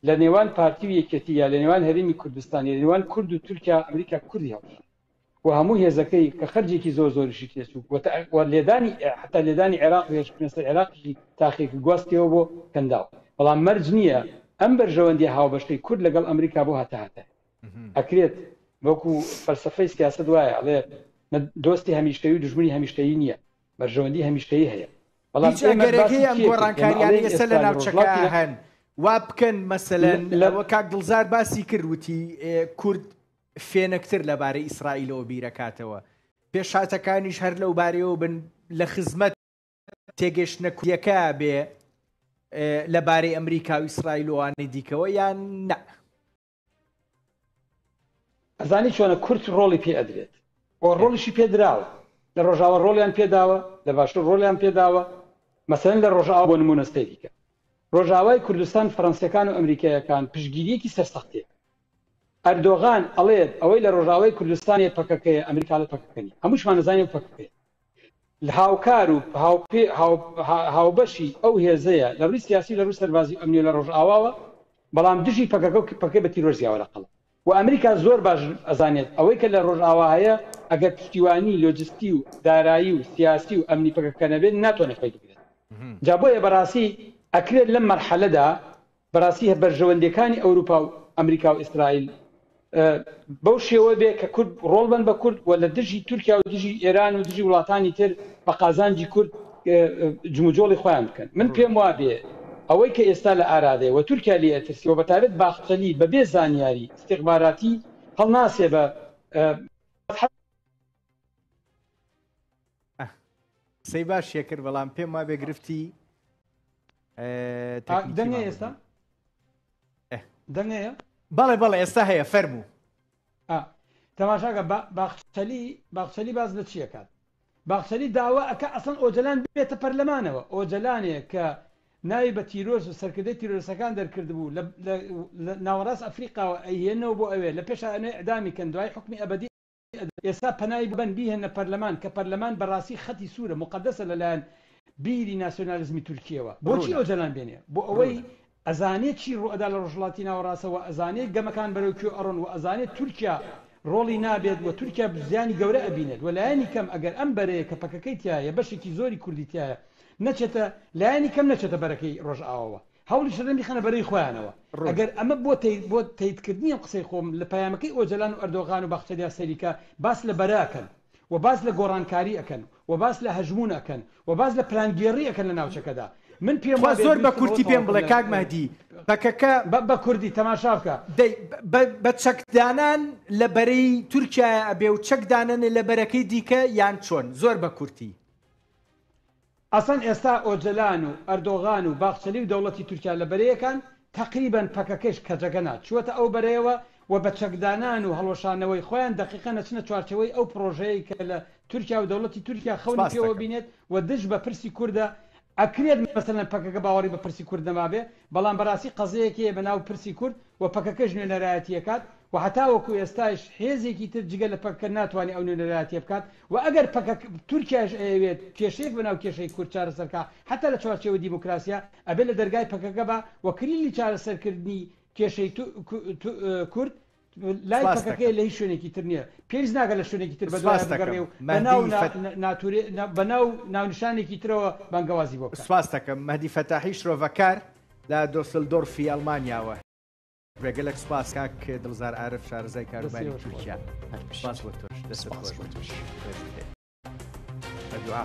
لە نێوان پارتی و یەکێتی یا لە نێوان هەرێمی کوردستان یا لە نێوان کورد و تورکیا، ئەمریکا کوردی هەڵکشاند و هەموو هێزەکەی کە خەرجێکی زۆر زۆریشی تێچوو و تا لێدانی حەتا لێدانی عێراق و هێرشکردنە سەر عێراقیشی تاقیەکی گواستیەوە بۆ کەنداو. بەڵام مەرج نییە ئەم بەرژەوەندییە هاوبەشەی کورد لەگەڵ ئەمریکا بۆ هەتاهەتایە. ئەکرێت وەکو فەلسەفەی سیاسەت وایە ئەڵێ دۆستی هەمیشەی و دژمنی هەمیشەی نییە بەرژەوەندی هەمیشەی هەیە بەڵام گەرەکەی ئەم گۆڕانکاریانەی ئێستا لە ناوچەکە هەن وا بکەن مەسەلەن لەوە کاک دڵزار باسی کرد وتی کورد فێنکتر لەبارەی ئیسرائیلەوە بیرەکاتەوە پێشاتەکانیش هەر لەو بارەوە بن لە خزمەت تێگەشتە کوریەکە بێ لەبارەی ئەمریکا و ئیسرائیلوانی دیکەوە یان نە ئەزانی چۆنە کورت ڕۆڵی پێ ئەدرێت بۆ ڕۆڵیشی پێدراوە لە ڕۆژاوە ڕۆلیان پێداوە لە باشوور ڕۆلیان پێداوە مەسەن لە ڕۆژاوە بۆ نمونە سەیریکە ڕۆژاوای کوردستان فەرەنسیەکان و ئەمریکایەکان پشگیریەکی سەرسەختێ ئەردۆغان ئەڵێت ئەوەی لە ڕۆژاوای کوردستانی پەکەکەیە ئەمریکا لە پەکەکەنی هەمووشمان نزانانی پەکەکەی لە هاوکار و هاوبەشی ئەو هێزەیە لە ڕووی سیاسی و لە ڕووی سەربازی و ئەمنی لە ڕۆژئاواوە، بەڵام دژی پەکەکە و پەکەکەی بە تیرۆر زیاوە لە قەڵەم و ئەمریکا زۆر باش ئەزانێت ئەوەی کە لە ڕۆژئاوا هەیە ئەگەر پشتیوانی لۆجستی و دارایی و سیاسی و ئەمنی پەکەکە نەبێت ناتوانێت خۆی بگرێت جا بۆیە بەڕاستی ئەکرێت لەم مەرحەلەدا بەراستی هە بەرژەوەندیەکانی ئەوروپا و ئەمریکا و ئیسرائیل بەو شێوە بێ کە کورد ڕۆڵ بن بە کورد و لە دژی تورکیا و دژی ئێران و دژی وڵاتانی تر بە قازانجی کورد جموجۆڵی خۆیان بکەن من پێم وابێ ئەوەی کە ئێستا لە ئارادێ و تورکیا لێ ئەترسی و بەتابێت باخچەلی بەبێ زانیاری استخباراتی هەڵناسێ بە قسەی باش شێکرد بەڵام پێم وابێ گرفتی دەنگە ئێستا دەنگەیە بەڵێ بەڵێ ئێستا هەیە فەرموو تەماشاگە باخچەلی باخچەلی باز لە چیەکات باخچەلی داوا ئەکە ئەسەن ئۆجلان بێتە پەرلەمانەوە ئۆجلانێ کە ناوی بە تیرۆز و سەرکردی تیرۆسەکان دەرکردبوو ناوەڕاست ئەفریقاوە ئەهێنەوە بۆ ئەوێ لە پێشانێ ئەدامی کەن دوای حکمی ئەبدی ئێستا پەنای بەن بیهێننە پەرلەمان کە پەرلەمان بەراستی خەتی سورە موقەدەسە لەلایەن بیری ناسیۆنالیزمی تورکیەوە بۆچی ئۆجەلان بێنێ بۆ ئەوەی ئەزانێ چی ڕوئەدا لە ڕۆژهەڵاتی ناوەڕاستە وە ئەزانێ گەمەکان بەرەو کوێ ئەڕۆن وە ئەزانێ تورکیا ڕۆڵی نابێت وە تورکیا زیانی گەورە ئەبینێت وە لایەنی کەم ئەگەر ئەم بەرەیە کە پەکەکەی تیایە بەشێکی زۆری کوردی تیایە نەچێتە لایەنی کەم نەچێتە بەرەکەی ڕۆژئاواوە هەوڵی شەڕیان بیخەنە بەرەی خۆیانەوە. ڕوون. ئەگەر ئەمە بۆ تەی بۆ تەیت کردنی ئەم قسەی خۆم لە پەیامەکەی ئۆجەلان و ئەردۆغان و باخچەلیا سەیریکە باس لە بەرە ئەکەن و باس لە گۆڕانکاری ئەکەن و باس لە هەژموون ئەکەن و باس لە پلانگێڕی ئەکەن لە ناوچەکەدا من پێم تخوا وابێ زۆر بە بیرکردنەوە کورتی پێم تەواوکەن بڵێ لە کاک مەهدی پەکەکە بە بە کوردی تەماشا بکە. دەی بە بە چەک دانان لە بەرەی تورکیایە ئەبێ و چەک دانەنە لە بەرەکەی دیکە یان چۆن زۆر بە کورتی. ئەسڵەن ئێستا ئۆجەلان و ئەردۆغان و باخچەلی و دەوڵەتی تورکیا لە بەرەیەکان، تەقریبەن پەکەکەیش کەجەگەنە چووەتە ئەو بەرەیەوە و بە چەکدانان و هەڵوەشانەوەی خۆیان دەقیقەن ئەچنە چوارچێوەی ئەو پڕۆژەیەی کە لە تورکیا و دەوڵەتی تورکیا خەونی پێوە بینێت و دژ بە پرسی کوردە، ئەکرێت مەسەلەن پەکەکە باوەڕی بە پرسی کورد نەمابێ، بەڵام بەراستی قەزەیەک هەیە بە ناو پرسی کورد و پەکەکەش نوێنەرایەتی ئەکات و هەتاوەکو ئێستایش حێزێکی تر جگە لە پەکەکە ناتوانێ ئەو نوێنەرایەتیە بکات و ئەگەر پەکەک تورکیایش ئەیەوێت کێشەیەک بە ناو کێشەی کورد چارەسەر کا حەتا لە چوارچێوە دیموکراسیا ئەبێ لە دەرگای پەکەکە با و کلیلی چارەسەر کردنی کێشەی کورد لای پەکەکەیە لە هیچ شوێنێکی تر نییە، پێویست ناکات لە شوێنێکی تر بەدوایان بگەڕێ و بە ناو و ناونیشانێکی ترەوە بانگەوازی بۆ بکات. سپاست دەکەم. مەهدی فەتاحی شرۆڤەکار لە دۆسلدۆرفی ئەڵمانیاوە. بێگەلەک سوپاس کاک دڵزار عارف شارەزای کاروباری تورکیا. سوپاس بۆ تۆش. دەستت خۆش بێت. بە دوعا.